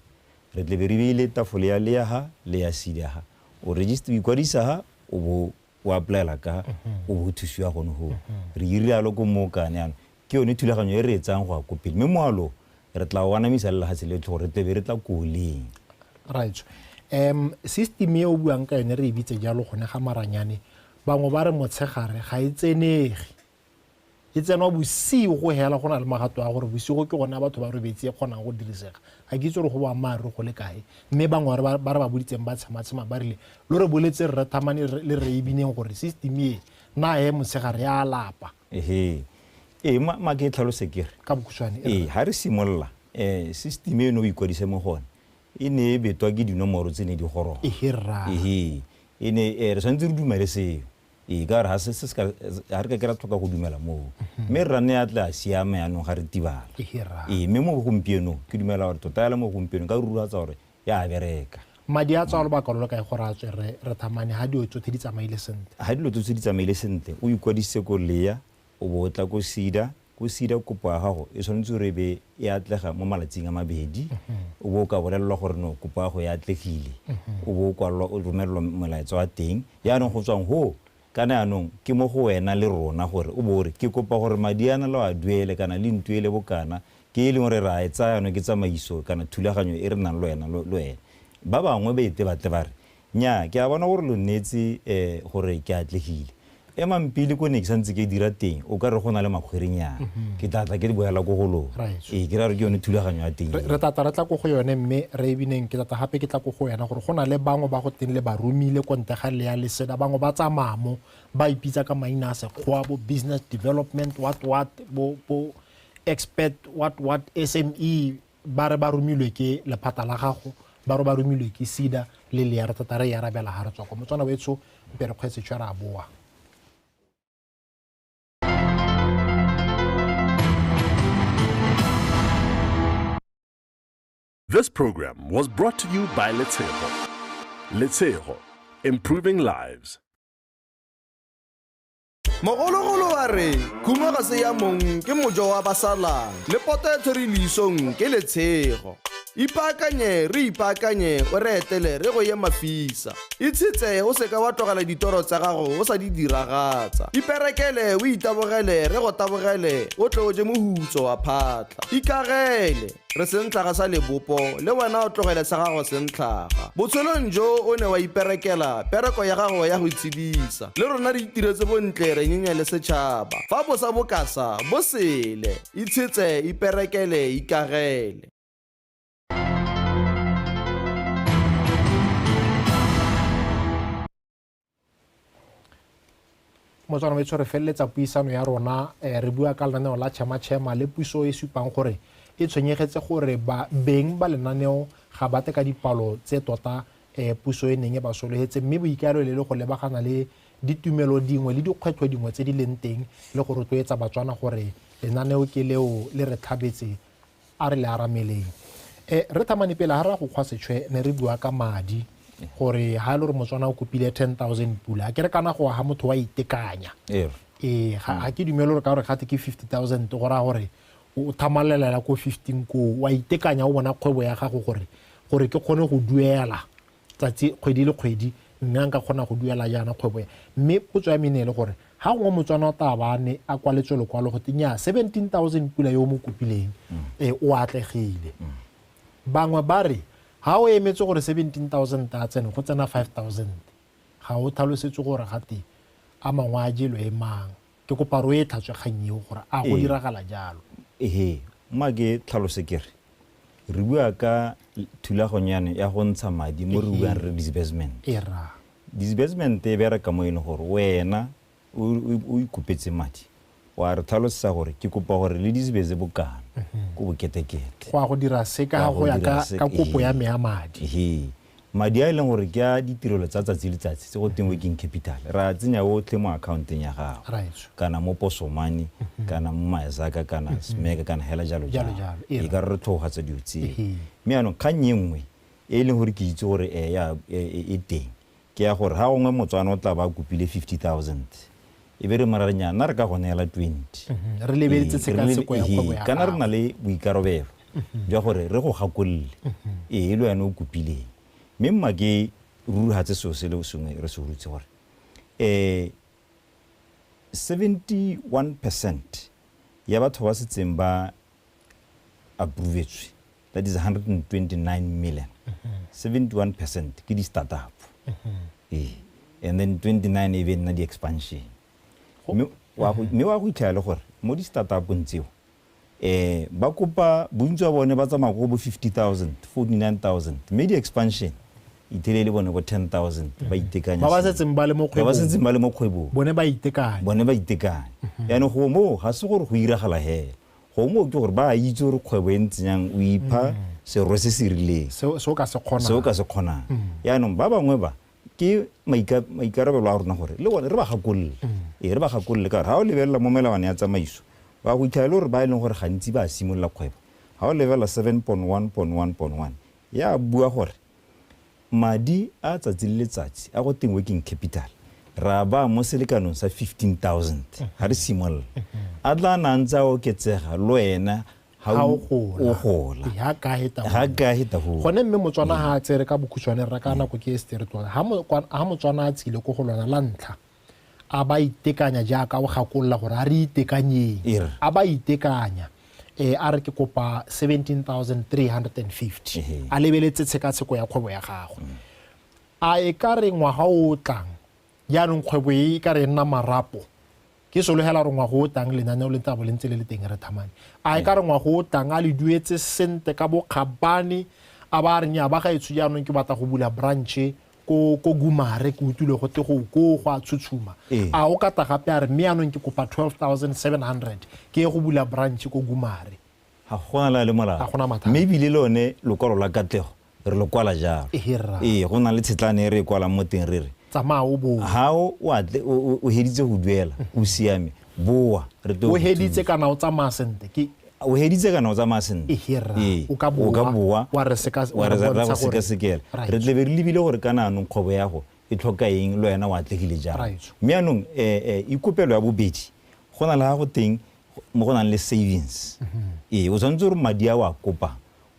Re tle be re beile tafole ya le ya ha le ya side ha o register o ikwadisa ha o bo o applyela ka o bo thusiwa gone ho re irialo ko mo kane yana ke yone thulaganyo e re etsang go a ko pele mme moalo re tla o anamisa le lehatshe le tlhogo re tle be re tla koleng right um system e o buang ka yone re e bitse jalo gone ga maranyane bangwe ba re motshegare ga e tsenege e tsenwa bosigo go hela go na le magato a gore bosigo ke gone a batho ba robetse e kgonang go dirisega ga ke itse gore go boammaaruri go le kae mme bangwe ba re ba boditseng ba tshematshema ba rile lo re boletse rre thamane le re ebineng gore system e na e motshegare ya lapa ehe ee ma ke tlhalose ke re ka bokhutshwane ee ga re simolola um system eno o ikwadise mo gone e ne e betwa ke dinomoro tse ne di goroga ehe e ne e re tshwanetse re dumele seo ee ka gore ga se se se ka ga re ka ke ra tlhoka go dumela moo mme rra ne a tle a siame yanong ga re tibala Hira. ee mme mo gompienong ke dumela gore tota yala mo gompienong ka ruruatsa gore ya a bereka madi a tswa lobaka lo lo kae gore a tswe re re thamane ga dio tsotlhe di tsamaile sentle ga dilo tse tse di tsamaile sentle o ikwadisitse ko lea O bo o tla ko SEDA. Ko SEDA kopo ya gago e tshwanetse gore e be e atlega mo malatsing a mabedi. O bo o ka bolelelwa gore no kopo ya gago e atlegile. O bo o kwalelwa, o romelelwa molaetsa wa teng. Jaanong go tswang foo, kana jaanong ke mo go wena le rona gore o bo o re ke kopa gore madi a na le a duele kana le ntuele bokana. Ke e leng gore re a e tsaya jaanong ke tsamaiso kana thulaganyo e re nang le wena le wena. Ba bangwe ba ete batle ba re Nnyaa, ke a bona gore lo nneetse eh, gore ke atlegile. Emang pele ko ne ke santse ke dira teng, o ka re go na le makgwerenyana. Ke tla tla ke di boela ko go lona. Right. Ee, ke ra re ke yone thulaganyo ya teng. re re tlatla re tla ko go yone mme re e bineng ke tlatla gape ke tla ko go wena gore go na le bangwe ba go teng le ba romile ko ntle ga lea leseda bangwe ba tsamaya mo ba ipitsa ka maina a sekgowa bo business development what what bo bo expert what what sme ba re ba romilwe ke lephata la gago ba re ba romilwe ke sida le lea re tota re e arabela ga re tswa kwa motswana wetsho mpe re kgwetse tshwe re a boa This program was brought to you by Letshego. Letshego, improving lives. mogologolo wa re khuma ga se ya mong ke mojo wa basalang le poto e tshwere leisong ke letshego ipaakanye re ipaakanye o re etele re go ye mafisa itshetse o seka wa tlogela ditoro tsa gago o sa di diragatsa iperekele o itabogele re go tabogele o tle o je mohutso wa phatlha ikagele re sentlhaga sa lebopo le wena o tlogele sa gago sentlhaga botshelong jo o ne wa iperekela pereko ya gago ya go itshedisa le rona re itiretse bontle re nyenye le setšhaba fa bosa bokasa bo sele itshetse iperekele ikagele mo tswana betsho re feleletsa puisano ya rona um re bua ka lenaneo la chema-chema le puso e supang gore e tshwenyegetse gore ba beng ba lenaneo ga ba teka dipalo tse tota um puso e neng e ba solegetse mme boikaelelo le go lebagana le ditumelo dingwe le dikgwetlho dingwe tse di leng teng le go rotloetsa batswana gore lenaneo ke leo le re tlhabetse a re le arameleng um re thamane pele ga ra go kgwa setshwe ne re bua ka madi gore ga e le gore motswana o kopile ten thousand pula a ke re kana go aga motho wa itekanya ee eh, ga mm. ke dumele gore ka gore gate ke fifty thousand go raya gore o thamalelela ko fifteen koo wa itekanya o bona kgwebo ya gago gore gore ke kgone go duela tsatsi kgwedi le kgwedi mme a nka kgona go duela jaana kgwebo ya mme potso ya me ne e le gore ga gongwe motswana o taba a ne a kwaletswe lokwalo go teng ya 17000 pula yo o mo kopileng e o atlegile bangwe ba re ga o emetse gore 17000 a tsene go tsena 5000 ga o tlhalosetse gore gate a mangwe a jelo e mang Ke kopa re o e tlhatswe kgang eo gore a go diragala jalo. Ehe, mma ke tlhalose ke re, re bua ka thulaganyo yane ya go ntsha madi mo re buang re disbursement. Era. Disbursement e bereka mo e leng gore wena o ikopetse madi wa re tlhalosetsa gore ke kopa gore le disbeze bokana ko boketekete. Go ya go dira se ka go ya ka kopo ya me ya madi. Ehe. Madi a e leng gore ke a ditirelo tsa tsatsi le letsatsi tse go teng working capital ra tsenya otlhe mo accounteng ya gago kana mo poso money kana mo myzaka kana smeka kana hela jalo jalo e ka re re tlhogogatsa dilo tseo mme yaanong kgang e nngwe e e leng gore ke itse gore e ya e teng ke ya gore ga gongwe motswana o tla ba a kopile fifty thousand e be re mo ra re nyaa nna re ka go neela twenty re lebeletse tshekatsheko ya kgwebo ya kana re na le boikarabelo jwa gore re go gakolole ee le wena o kopileng mme mma ke rurugatse seo se le sengwe re se rutse gore um seventy one percent ya batho ba setseng ba approvetswe that is 129 million 71 percent ke di-startup ee and then 29 e be nna di-expansion mme wa go mme wa go itlhela le gore mo di-startupong tseo eh ba kopa bontsi wa bone ba tsamaya ko bo 50000 49000 mme di-expansion ithelele bone bo 10000 ba itekanya ba ba sentle. setseng ba le mo ba ba kgwebong setseng ba le mo kgwebong bone ba itekanye bone ba itekanye yaanong go moo ga se gore go iragala hela gongwe mooki gore ba a itse gore kgwebo e ntse jang o ipha serwe se se rileng se o ka se kgonang se o ka se kgonang yaanong ba bangwe ba ke maikarabelo a rona gore le bone re ba gakolole ee re ba gakolole ka gore ga o lebelela mo melawana ya tsamaiso wa go ithaele gore ba e leng gore gantsi ba simolola kgwebo ga o lebelela seven point one point one point one ya bua gore Madi a tsatsi le letsatsi a go teng working capital re a baya mo selekanong sa 15,000 ga re simolola. A tla a na a ntse a oketsega le wena ha Ha o o gola. o gola. Ee, ha ka heta Ha hole. ka heta hole. gone mme motswana ga a tsere ka bokhutshwane rra ka nako ke e sete re tloga ha mo- kwa- ha motswana a tsile ko go lona la ntlha A ba itekanya jaaka o gakolola gore a re itekanyeng. E re. A ba itekanya. E, a re ke kopa 17350. Ehe. A lebeletse tshekatsheko ya kgwebo ya gagwe. Mm. A e ka re ngwaga o o tlang, jaanong kgwebo e e ka re e nna marapo, ke solegela gore ngwaga o tlang lenaneo le tla bo le ntse le le teng re thamane. A e ka re ngwaga o tlang a le duetse sente ka bokgabane, a ba a re nnyaa ba gaetsho jaanong ke batla go bula branche ko ko gumare ke utlwile go te go ko go a tshutshuma ee. a o kata gape a re mme yanong ke kopa 12700 ke ye go bula branch ko gumare ga gona la le molao mme ebile le one lokwalo la katlego re lo kwala jalo ee go na le tshetlane e re e kwalang mo teng re re tsamaya o boa ga o heditse go duela o siame boa re o heditse kana o tsamaya sente o heditse kana o tsamaya sentle ee, o ka boa wa re sekasekela re tlebe re lebile gore kana anong kgwebo yago e tlhoka eng le wena o atlegile jang mme anong um eh, eh, ikopelo ya bobedi go na le ga go teng mo go nang le savings mhm. ee o tshwanetse gore madi a o a kopang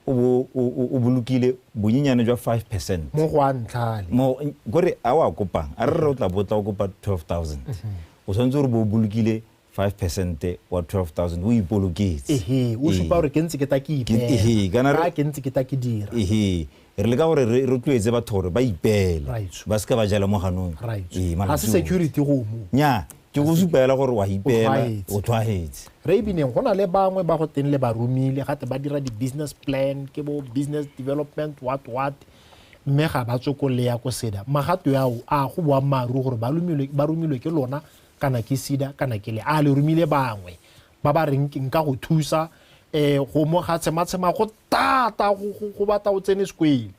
o bolokile bonyenyane jwa five percent mo go a ntlhale kore a o a kopang a re re o tla botla o kopa twelve thousand mhm. o tshwanetse gore bo o bolokile five percent wa 12000 o ipoloketse ehe o supa gore ke ntse ke ta ke ipeela ke ntse ke ta ke dira ehe re le ka gore re rotloetse batho gore ba ipeele ba se ka ba jala mo ganong ga se security gomo nya ke go supela gore wa ipeela o tshwagetse re ebineng go na le bangwe ba go teng le ba romile gate ba dira di-business plan ke bo business development what what mme ga ba tswe ko leya ko seda magato yao a go boammaaruri gore ba romilwe ke lona kana ke sida kana ke le a le romile bangwe ba ba reng nka go thusa um go mo ga tshematshema go tata go batla o tsene sekwele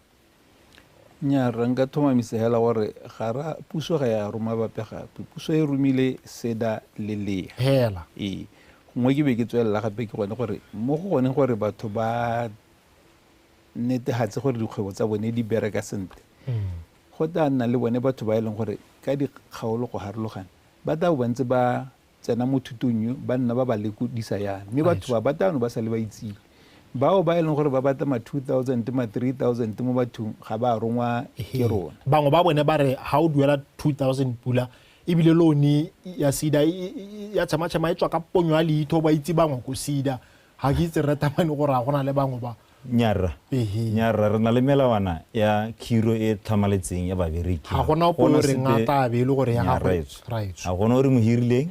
nya re nka thomamisa hela gore ga ra puso ga ya roma bape gape puso e romile seda le lea hela ee nngwe ke be ke tswelela gape ke gone gore mo go gone gore batho ba netegatse gore dikgwebo tsa bone di bereka sentle mm. Go tla nna le bone batho ba e leng gore ka dikgaolo go harologana ba tla bo ba ntse ba tsena mo thutong yo ba nna ba ba lekodisa yana mme batho ba ba tano ba sa le ba itsile bao ba e leng gore ba batla ma 2000 ma 3000 mo bathong ga ba rongwa ke rona bangwe ba bone ba re ga o duela 2000 pula ebile lone ya sida ya tshamatshama e tswa ka ponyo ya leitho ba itse bangwe ko sida ga ke itse rre tamane gore a gona le bangwe ba nya rra nya rra re na le melawana ya khiro e tlhamaletseng ya babereki ga gona ope o reng a tla be e le gore ya gagwe ga gona o re mo hirileng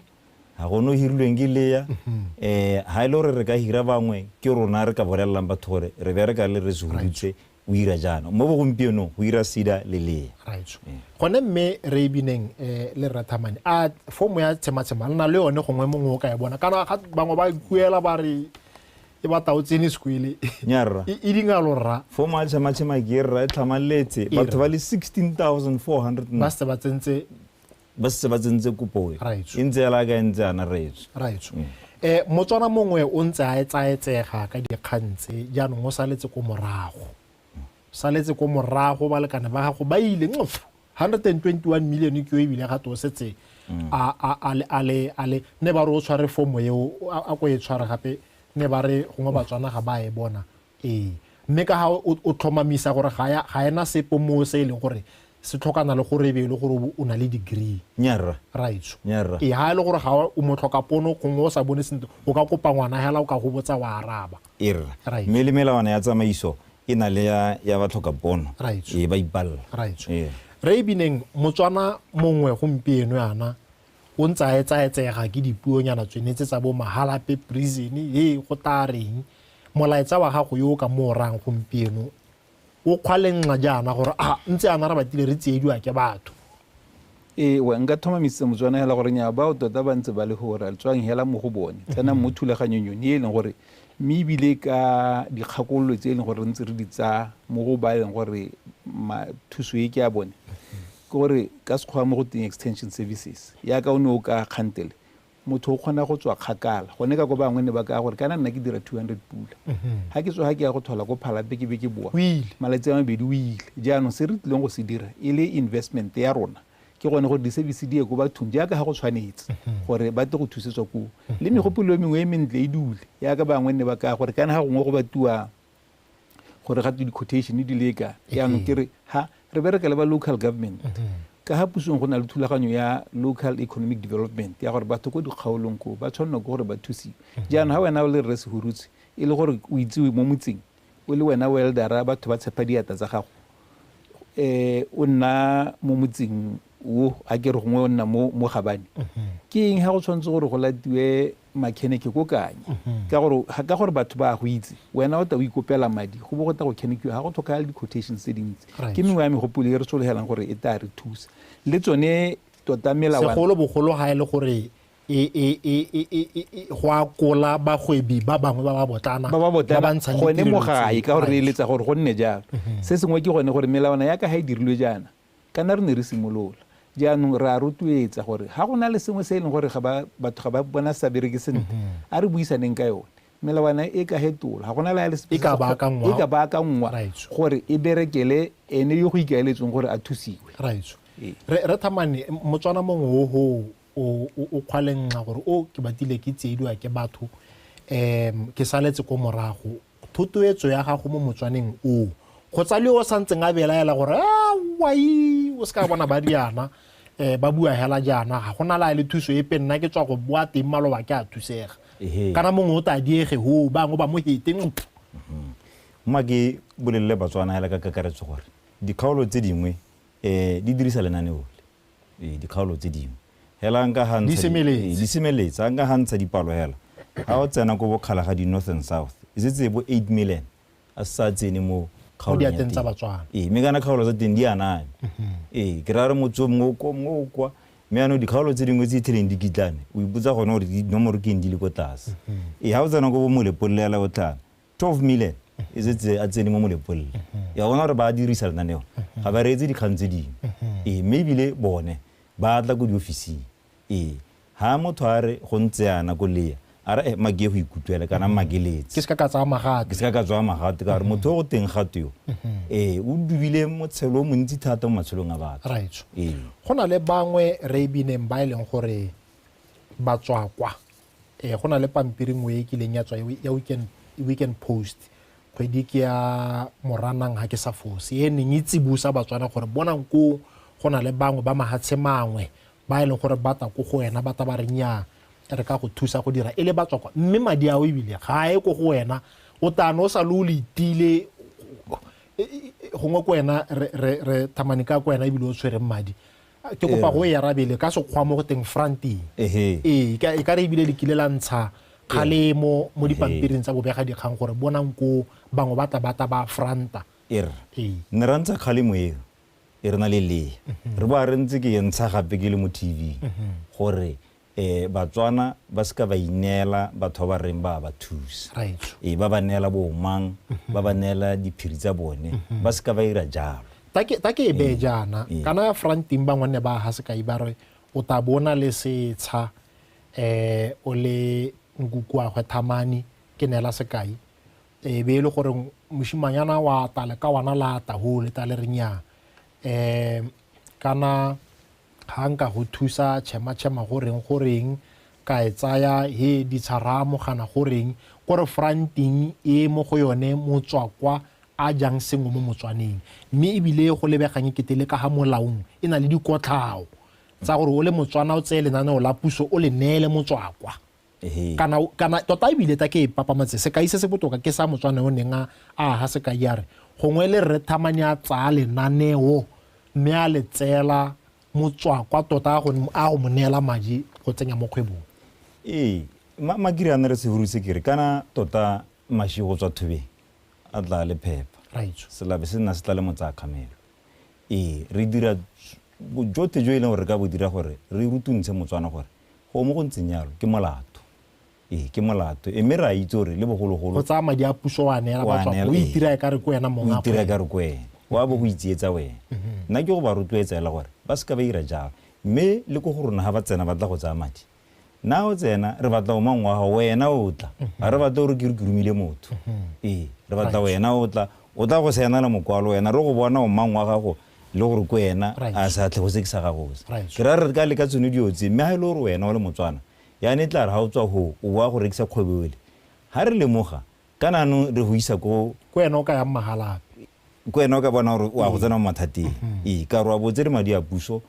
ga gone o hirilweng ke leya um ga e le gore re ka hira bangwe ke rona re ka bolelelang batho gore re bereka le re se huditse o ira jaana mo bogompienong go ira sida le lee raitso gone mme re e bineng eh, le rathamane a fomo ya tshematshema le na le yone gongwe mongwe o ka e bona kana ga bangwe ba kuela ba re e batla o tsene sekwele nyarra e e dinga lorra fomo ya tshematshema ke e rra e tlhamaletse batho ba le 16400 ba se ba tsentse ba setse ba tsentse kopo e e ntse ya laka e ntse yana raetsho raetsho um mm. motswana mongwe o ntse a etsaetsega ka dikgang tse jaanong o saletse ko morago saletse ko morago balekane ba gago ba ile nqf 121 million ke yo ebile ga to o setse mm. a le ne ba re o tshware fomo eo a ko e tshware gape ne ba re gongwe batswana ga ba e bona Ee, mme ka ga o tlhomamisa gore ga ya ga ena sepe moo se e leng gore se tlhokana le gore e be e le gore o na le degree. Nnyaa rra. Raetsho. Nnyaa rra. Ee, ga e le gore ga o mo tlhoka pono gongwe o sa bone sentle o ka kopa ngwana hela o ka go botsa wa araba. Ee rra. Raetsho. Mme le melawana ya tsamaiso e na le ya ya ba tlhoka pono. Raetsho. Ee, ba ipalela. Raetsho. Ee. Rre Bineng, Motswana mongwe gompieno yana o ntse a etsaetsega ke dipuonyana tsone tse tsa bo mahalape prison e go tla reng molaetsa wa gago yo o ka mo orang gompieno o kgwalenxa jaana gore a ntse ana re batile re tsiediwa ke batho ewa nka thomamisitse motswana hela gore nya bao tota ba ntse ba le gore le tswang hela mo go bone tsenang mo thulaganyong yone e leng gore mme ebile ka dikgakololo tse e leng gore re ntse re di tsaya mo go ba e leng gore thuso e ke ya bone Ke gore ka Sekgowa mo go teng extension services, yaka o ne o ka kgantele, motho o kgona go tswa kgakala. Gone ka ko bangwe ne ba kaya gore kana nna ke dira 200 pula, ha ke tsoga ke ya go thola ko Phalape ke be ke boa malatsi a mabedi o ile. Jaanong se re tlileng go se dira e le investment ya rona ke gone gore di-service di ye ko bathong jaaka ha go tshwanetse gore ba tle go thusetswa koo le megopolo e mengwe e mentle e dule yaka bangwe ne ba kaya gore kana ha gongwe go batiwa gore ga di-quotation di leka yaanong ke re ha re bereka le ba local government ka ga pusong go na le thulaganyo ya local economic development ya gore batho ko dikgaolong ko ba tshwanelwa ke gore ba thusiwe jaanong ga wena o le rre segurutse e le gore o itsewe mo motseng o le wena weldera batho ba tshepa diata tsa gago um o nna mo motseng o a ke re gongwe o nna mo gabane ke eng ga go tshwanetse gore go latiwe makheneke ko kanye mm-hmm. ka gore ka gore batho ba go itse wena o ta o ikopela madi go bo go ta go khenekiwa ga go tlhokagale di-quotations tse dintsi ke mengwe ya megopolo e re sologelang gore e ta re thusa le tsone tota melawasegolo bogolo ga e le gore e, e, e, go akola bagwebi ba bangwe ba ba botlana ba ba botlana gone mo gae ka gore re eletsa gore go nne jalo mm-hmm. se sengwe ke gone gore melawana ya ka ga e dirilwe jaana Kana re ne re simolola. Jaanong re a rotloetsa gore ga go na le sengwe se e leng gore ga ba, batho ga ba bona se sa bereke sentle, a re buisaneng ka yone. Melawana e ka hetolwa. Ga go na le ya le sepe E se ka se- baakangwa. e ka baakangwa Raetsho. gore e berekele ene yo go ikaeletsweng gore a thusiwe. raetsho Ee. re re thamane m- motswana mongwe o ho o o- o kgwalengxa gore o ke batile ke tsiediwa ke batho um ke saletse ko morago Thotoetso ya gago mo motswaneng oo. Go tsa le yo o sa ntseng a belaela gore a wai o se ka bona ba diana um ba bua hela jaana ga gona la le thuso epe nna ke tswa go boa teng maloba ke a thusega kana mongwe o tla diege ho bangwe ba mo hete ntlo mm-hmm. mma ke bolelele batswana hela ka kakaretso gore dikgaolo tse dingwe um di dirisa lenaneo le Ee, dikgaolo tse dingwe. Hela nka ga ntsha. Di semeletse. Ee, di semeletse. A nka ga ntsha dipalo hela. Ga o tsena ko bokgala ga di North and South. E setse e bo 8 million. A se sa tsene mo kgaolong ya teng. Mo diateng tsa Batswana. Ee, mme kana kgaolo tsa teng di aname. Ee, ke raya re motse mongwe o kwa, mongwe o kwa. Mme yanong dikgaolo tse dingwe tse itlheleng di kitlane, o ipotsa gone gore dinomoro ke eng di le ko tlase. Ee, ga o tsena ko bo Molepolela o tlana, 12 million e setse a tsene mo molepolele ya bona gore ba a dirisa lenaneo ga ba reetse dikgang tse dingwe ee mme ebile bone ba tla ko diofising ee ga motho a re go ntse yana ko leya a re make go ikutlwele kana makeletse ke se ka ka tsaya magate ke se ka ka tsaya magate ka gore motho o go teng gato yo ee o dubile motshelo o montsi thata mo matshelong a batho right ee go na le bangwe re bineng ba e leng gore ba tswakwa eh go na le pampiri ngwe e kileng ya tswa ya weekend weekend post kgwedi ke ya moranang ga ke sa fose e neng e tsibusa batswana gore bonang ko go na le bangwe ba mahatshe mangwe ba e leng gore ba ta ko go wena ba ta ba renya re ka go thusa go dira e le batswakwa mme madi ao ebile ga e ko go wena o tano o sa le o le itile gongwe ko wena re thamane ka ko wena ebile o tshwereng madi ke kopa go e arabele ka sekgwa mo go teng fronting ee e ka re ebile le kile la ntsha kgalemo mo dipampiring tsa bobega dikgang gore bonang ko bangwe ba tla ba tla ba franta er ne ra ntsha kgalemo eo e re na le lea re ba re ntse ke e ntsha gape ke le mo tv gore E, Batswana ba se ka ba ineela batho ba ba reng ba a ba thusa. Raetsho. E, ba ba neela boomang, mhm. ba ba neela diphiri tsa bone, mhm. ba se ka ba ira jalo. Ta ke e bee jaana, kana ya franteng bangwanne ba ha sekai ba re o ta bo o na le setsha eh o le nkukuagwe thamani ke neela sekai e be e le gore moshimanyana wa tale ka wana la tahole ta le re nyaa um kana Ga nka go thusa chema chema go reng go reng ka e tsaya he ditsharaa mogana go reng ko re fronting e mo go yone motswakwa a jang sengwe mo motswaneng mme ebile go lebegang e kete le ka ga molaong e na le dikotlhao tsa gore o le motswana o tseye lenaneo la puso o le neele motswakwa kana kana tota ebile ta ke e papamatse sekai se se botoka ke sa motswana o neng a aga sekai ya re gongwe le rre thamane a tsaya lenaneo mme a le tseela motswakwa tota a go mo neela madi go tsenya mo kgwebong ee makiri a ne re sehuru se kere kana tota mashi go tswa thubeng a tla le phepa selabe se nna se tla le motsaya kgamelo ee re dira bojothe jo e leng gore re ka bo dira gore re rutuntshe motswana gore Go mo go ntseng jalo ke molato. Ee, ke molato. E mme re a itse gore le bogologolo. Go tsaya madi a puso wa neela batho o itira ka re ko wena mongwe. O itira ka re ko wena. Wa bo go itsietsa wena. Nna ke go ba rotloetsa ela gore ba se ka ba ira jalo. Mme le ko go rona ga ba tsena ba tla go tsaya madi. Na o tsena re batla o mang wa gago wena o tla. Ga re batla gore ke re ke romile motho. Ee, re batla wena o tla. O tla go saenela mokwalo wena re go bona o mang wa gago le gore ko ena a sa tlhego se ke sa gago se ke ra re ka le ka tsone dio tse mme ha ile e gore wena o le motswana ya ne tla re ha o tswa ho o boa go rekisa kgwebo ele ha re lemoga kana no re go isa ko ko ena o ka ya mmagalape ko ena o ka bona gore o a go mm. tsena mo mathateng mm-hmm. ee ka re wa botse le madi a puso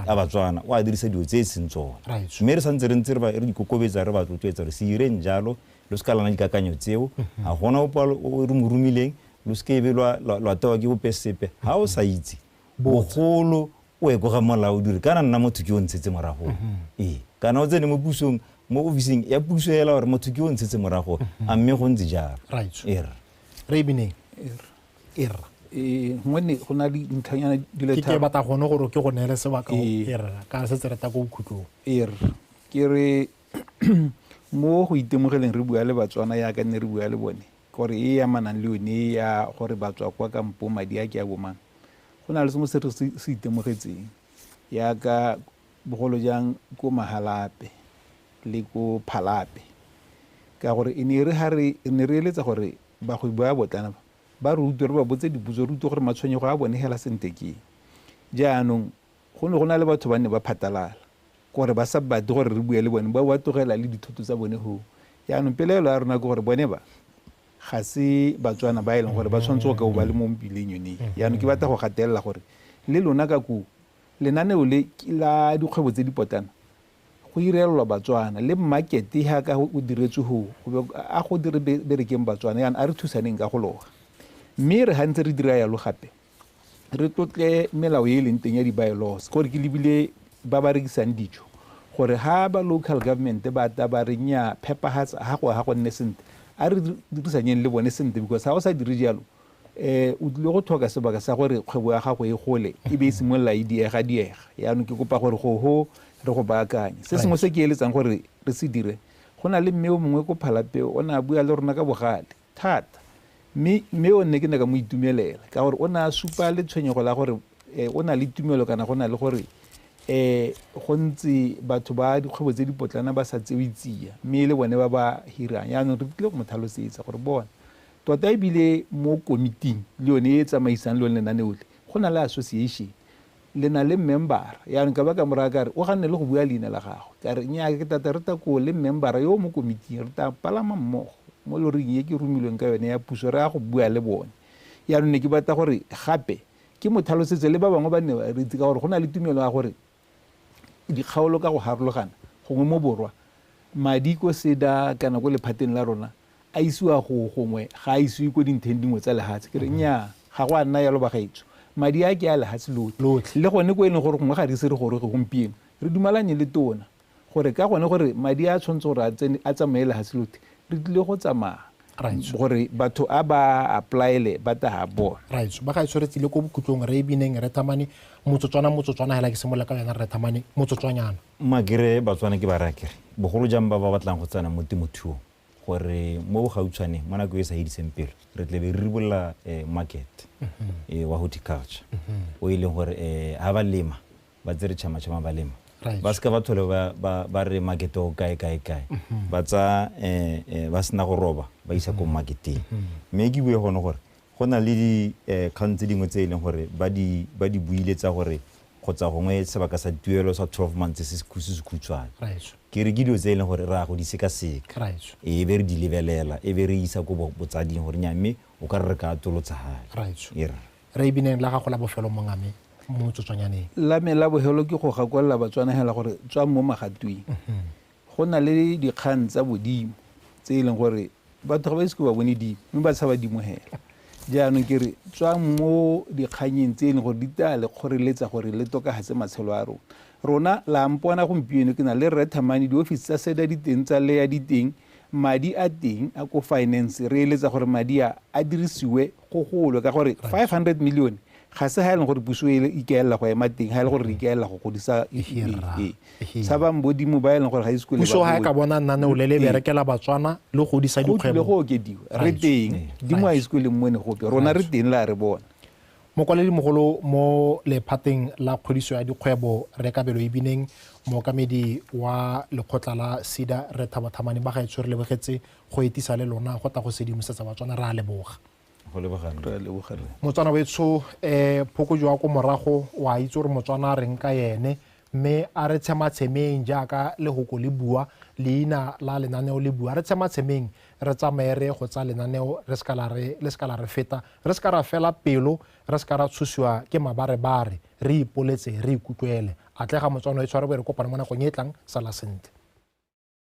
a batswana o a dirisa dilo tse e seng tsone mme re santse re ntse re dikokobetsa re ba rotloetsa gore se direng jalo lo se ka lana dikakanyo tseo ga gona opa re mo romileng lo se kebe lwa tewa ke bope sepe ga o sa itse bogolo o ekoga molao dire kana nna motho ke o ntshetse morago ee kana o tsene mo pusong mo ofising ya puso ela gore motho ke o ntshetse morago a mme go ntse jalo er re bineng e rra ee gongwe ne go na le dintlhanyana di le ke batla gone gore ke go neele sebaka ee. e rra ka re se tse reta ko bokhutlong ee ke re mo go itemogeleng re bua le batswana yaka ne re bua le bone gore e ya manang le yone ya gore batswa kwa kampo madi a ke a bomang go na le sengwe se re se itemogetseng yaka bogolo jang ko Mahalape le ko Phalape ka gore e ne e re ha re ne re eletsa gore bagwebi ba botlana ba ba rutwe re ba botse dipotso rutwe gore matshwenyego a bone hela sente ke jaanong go ne go na le batho ba ne ba phatalala gore ba sa batle gore re bue le bone ba ba tlogela le dithoto tsa bone ho jaanong pelaelo ya rona ke gore bone ba ga se batswana ba e leng gore ba tshwanetse go ka o ba le mo mpileng yone jaanong ke batla go gatelela gore le lona ka koo Lenaneo le ke la dikgwebo tse di potlana go irelelwa Batswana le market yaka o diretswe ho a go dire berekeng Batswana yana a re thusaneng ka go loga mme re gantse re dira yalo gape re tlotle melao e e leng teng ya di-bylaws gore ke lebile ba ba rekisang dijo gore ha ba local government ba ta ba re nya phepagatsa ga go ga go nne sentle a re dirisanyeng le bone sentle because ga o sa dire jalo Eh, o tlile go tlhoka sebaka sa gore kgwebo ya gago e gole e be e simolola e diega diega yaanong ke kopa gore go ho re go baakanye se sengwe se ke eletsang gore re se dire go na le mme o mongwe ko phalapeo o ne a bua le rona ka bogale thata mme mme o nne ke ne ka mo itumelela ka gore o ne a supa le tshwenyego la gore eh, o na le tumelo kana go na le gore eh go ntse batho ba dikgwebo tse dipotlana ba sa tsewe tsia mme e le bone ba ba hirang yaanong re tlile go mo tlhalosetsa gore bona Tota e bile mo komiting le yone e e tsamaisang lone lenaneo le, go na le association. Le na le mmembara. Yaanong ka ba ka moraya ka re, o ganne le go bua leina la gagwe. Ka re, Nnyaa, ke tata re ta koo le mmembara yo o mo komiting, re ta palama mmogo mo loring e ke romilweng ka yone ya puso, re ya go bua le bone. Yaanong ne ke batla gore gape ke mo tlhalosetse, le ba bangwe ba nne ba re itse, ka gore go na le tumelo ya gore, dikgaolo ka go harologana gongwe mo borwa madi ko seda kana ko lephateng la rona a isiwa go gongwe ga a isiwe ko dintheng dingwe tsa lehatshe ke re mhm. nnyaa ga go a nna yalo bagaetso madi a ke a lehatshe lotlhe le gone ko e leng gore gongwe ga re ise re goroge gompieno re dumalanye le tona gore ka gone gore madi a tshwanetse gore a tsene a tsamaye lefatshe lothe re tlile go tsamaya gore batho a ba applyele ba taga bona raitso ba ga itshwere tsile ko bokhutlong re e bineng re thamane motsotswana motsotswana hela ke semola ka yona re thamane motsotswanyana makere batswana ke ba raya kere bogolo jang ba ba batlang go tsena mo temothuong gore mo bogautshwaneng mo nako e sa ediseng pelo re tle be re ribolola um market um wa horticulture o e leng gore um ga ba lema ba tsere tšhamatšhama ba lema Right. ba seka ba thole ba- ba ba re makete o kae kae kae ba tsa eh, eh, ba sena go roba ba isa ko maketeng mme ke bue gone gore go na le dikgang tse dingwe tse e leng gore ba di ba di buile tsa gore kgotsa gongwe sebaka sa tuelo sa 12 months se se khu- se se khutshwane Right. ke re ke dilo tse e leng gore re ya go di sekaseka Right. e be re di lebelela e be re isa ko bo- botsading gore nya mme o ka re re ka atolotsa gale Right. e re Re ibineng la gago la bofelo monga me mo motsotswanyaneng. La me la bohelo ke go gakwelela Batswanahela gore tswang mo magatweng. Mhm. Go na le dikgang tsa bodimo tse e leng gore batho ga ba ise ke ba bone dimo mme ba tshaba dimo hela. Jaanong ke re tswang mo dikganyeng tse e leng gore di tla le kgoreletsa gore le tokagatse matshelo a rona. Rona la mpona gompieno ke na le Rre Thamane diofisi tsa seda di teng tsa leya di teng madi a teng a ko finance re eletsa gore madi a a dirisiwe go golwe ka gore 500 milione ga se ga e leng gore puso e ikaelela go ema teng ga e le gore re ikaelela go godisa tshabang bodimo ba e leng gore ga ise kole ga e ka bona nnane o le le berekela batswana le godisa dikgwebo le go okediwa re teng dimo a ise kole mo ne gope rona re teng la re bona mogolo mo lephateng la kgodiso ya dikgwebo re kabelo e bineng mookamedi wa lekgotla la sida re thabathamane ba ga e tshwere lebogetse go etisa le lona go tla go sedimosetsa batswana re a leboga motswana wetsho um eh, phoko jwa ko morago wa itse gore motswana a reng ka ene mme a re tshematshemeng jaaka lehoko le bua leina la lenaneo le bua re tshematshemeng re tsamaye re go tsa lenaneo le se ka la re feta re se ka ra fela pelo re se ka ra tshosiwa ke mabarebare re ipoletse re ikutlwele atlega motswana e tshware bo re kopane mo nakong e tlang sala sentle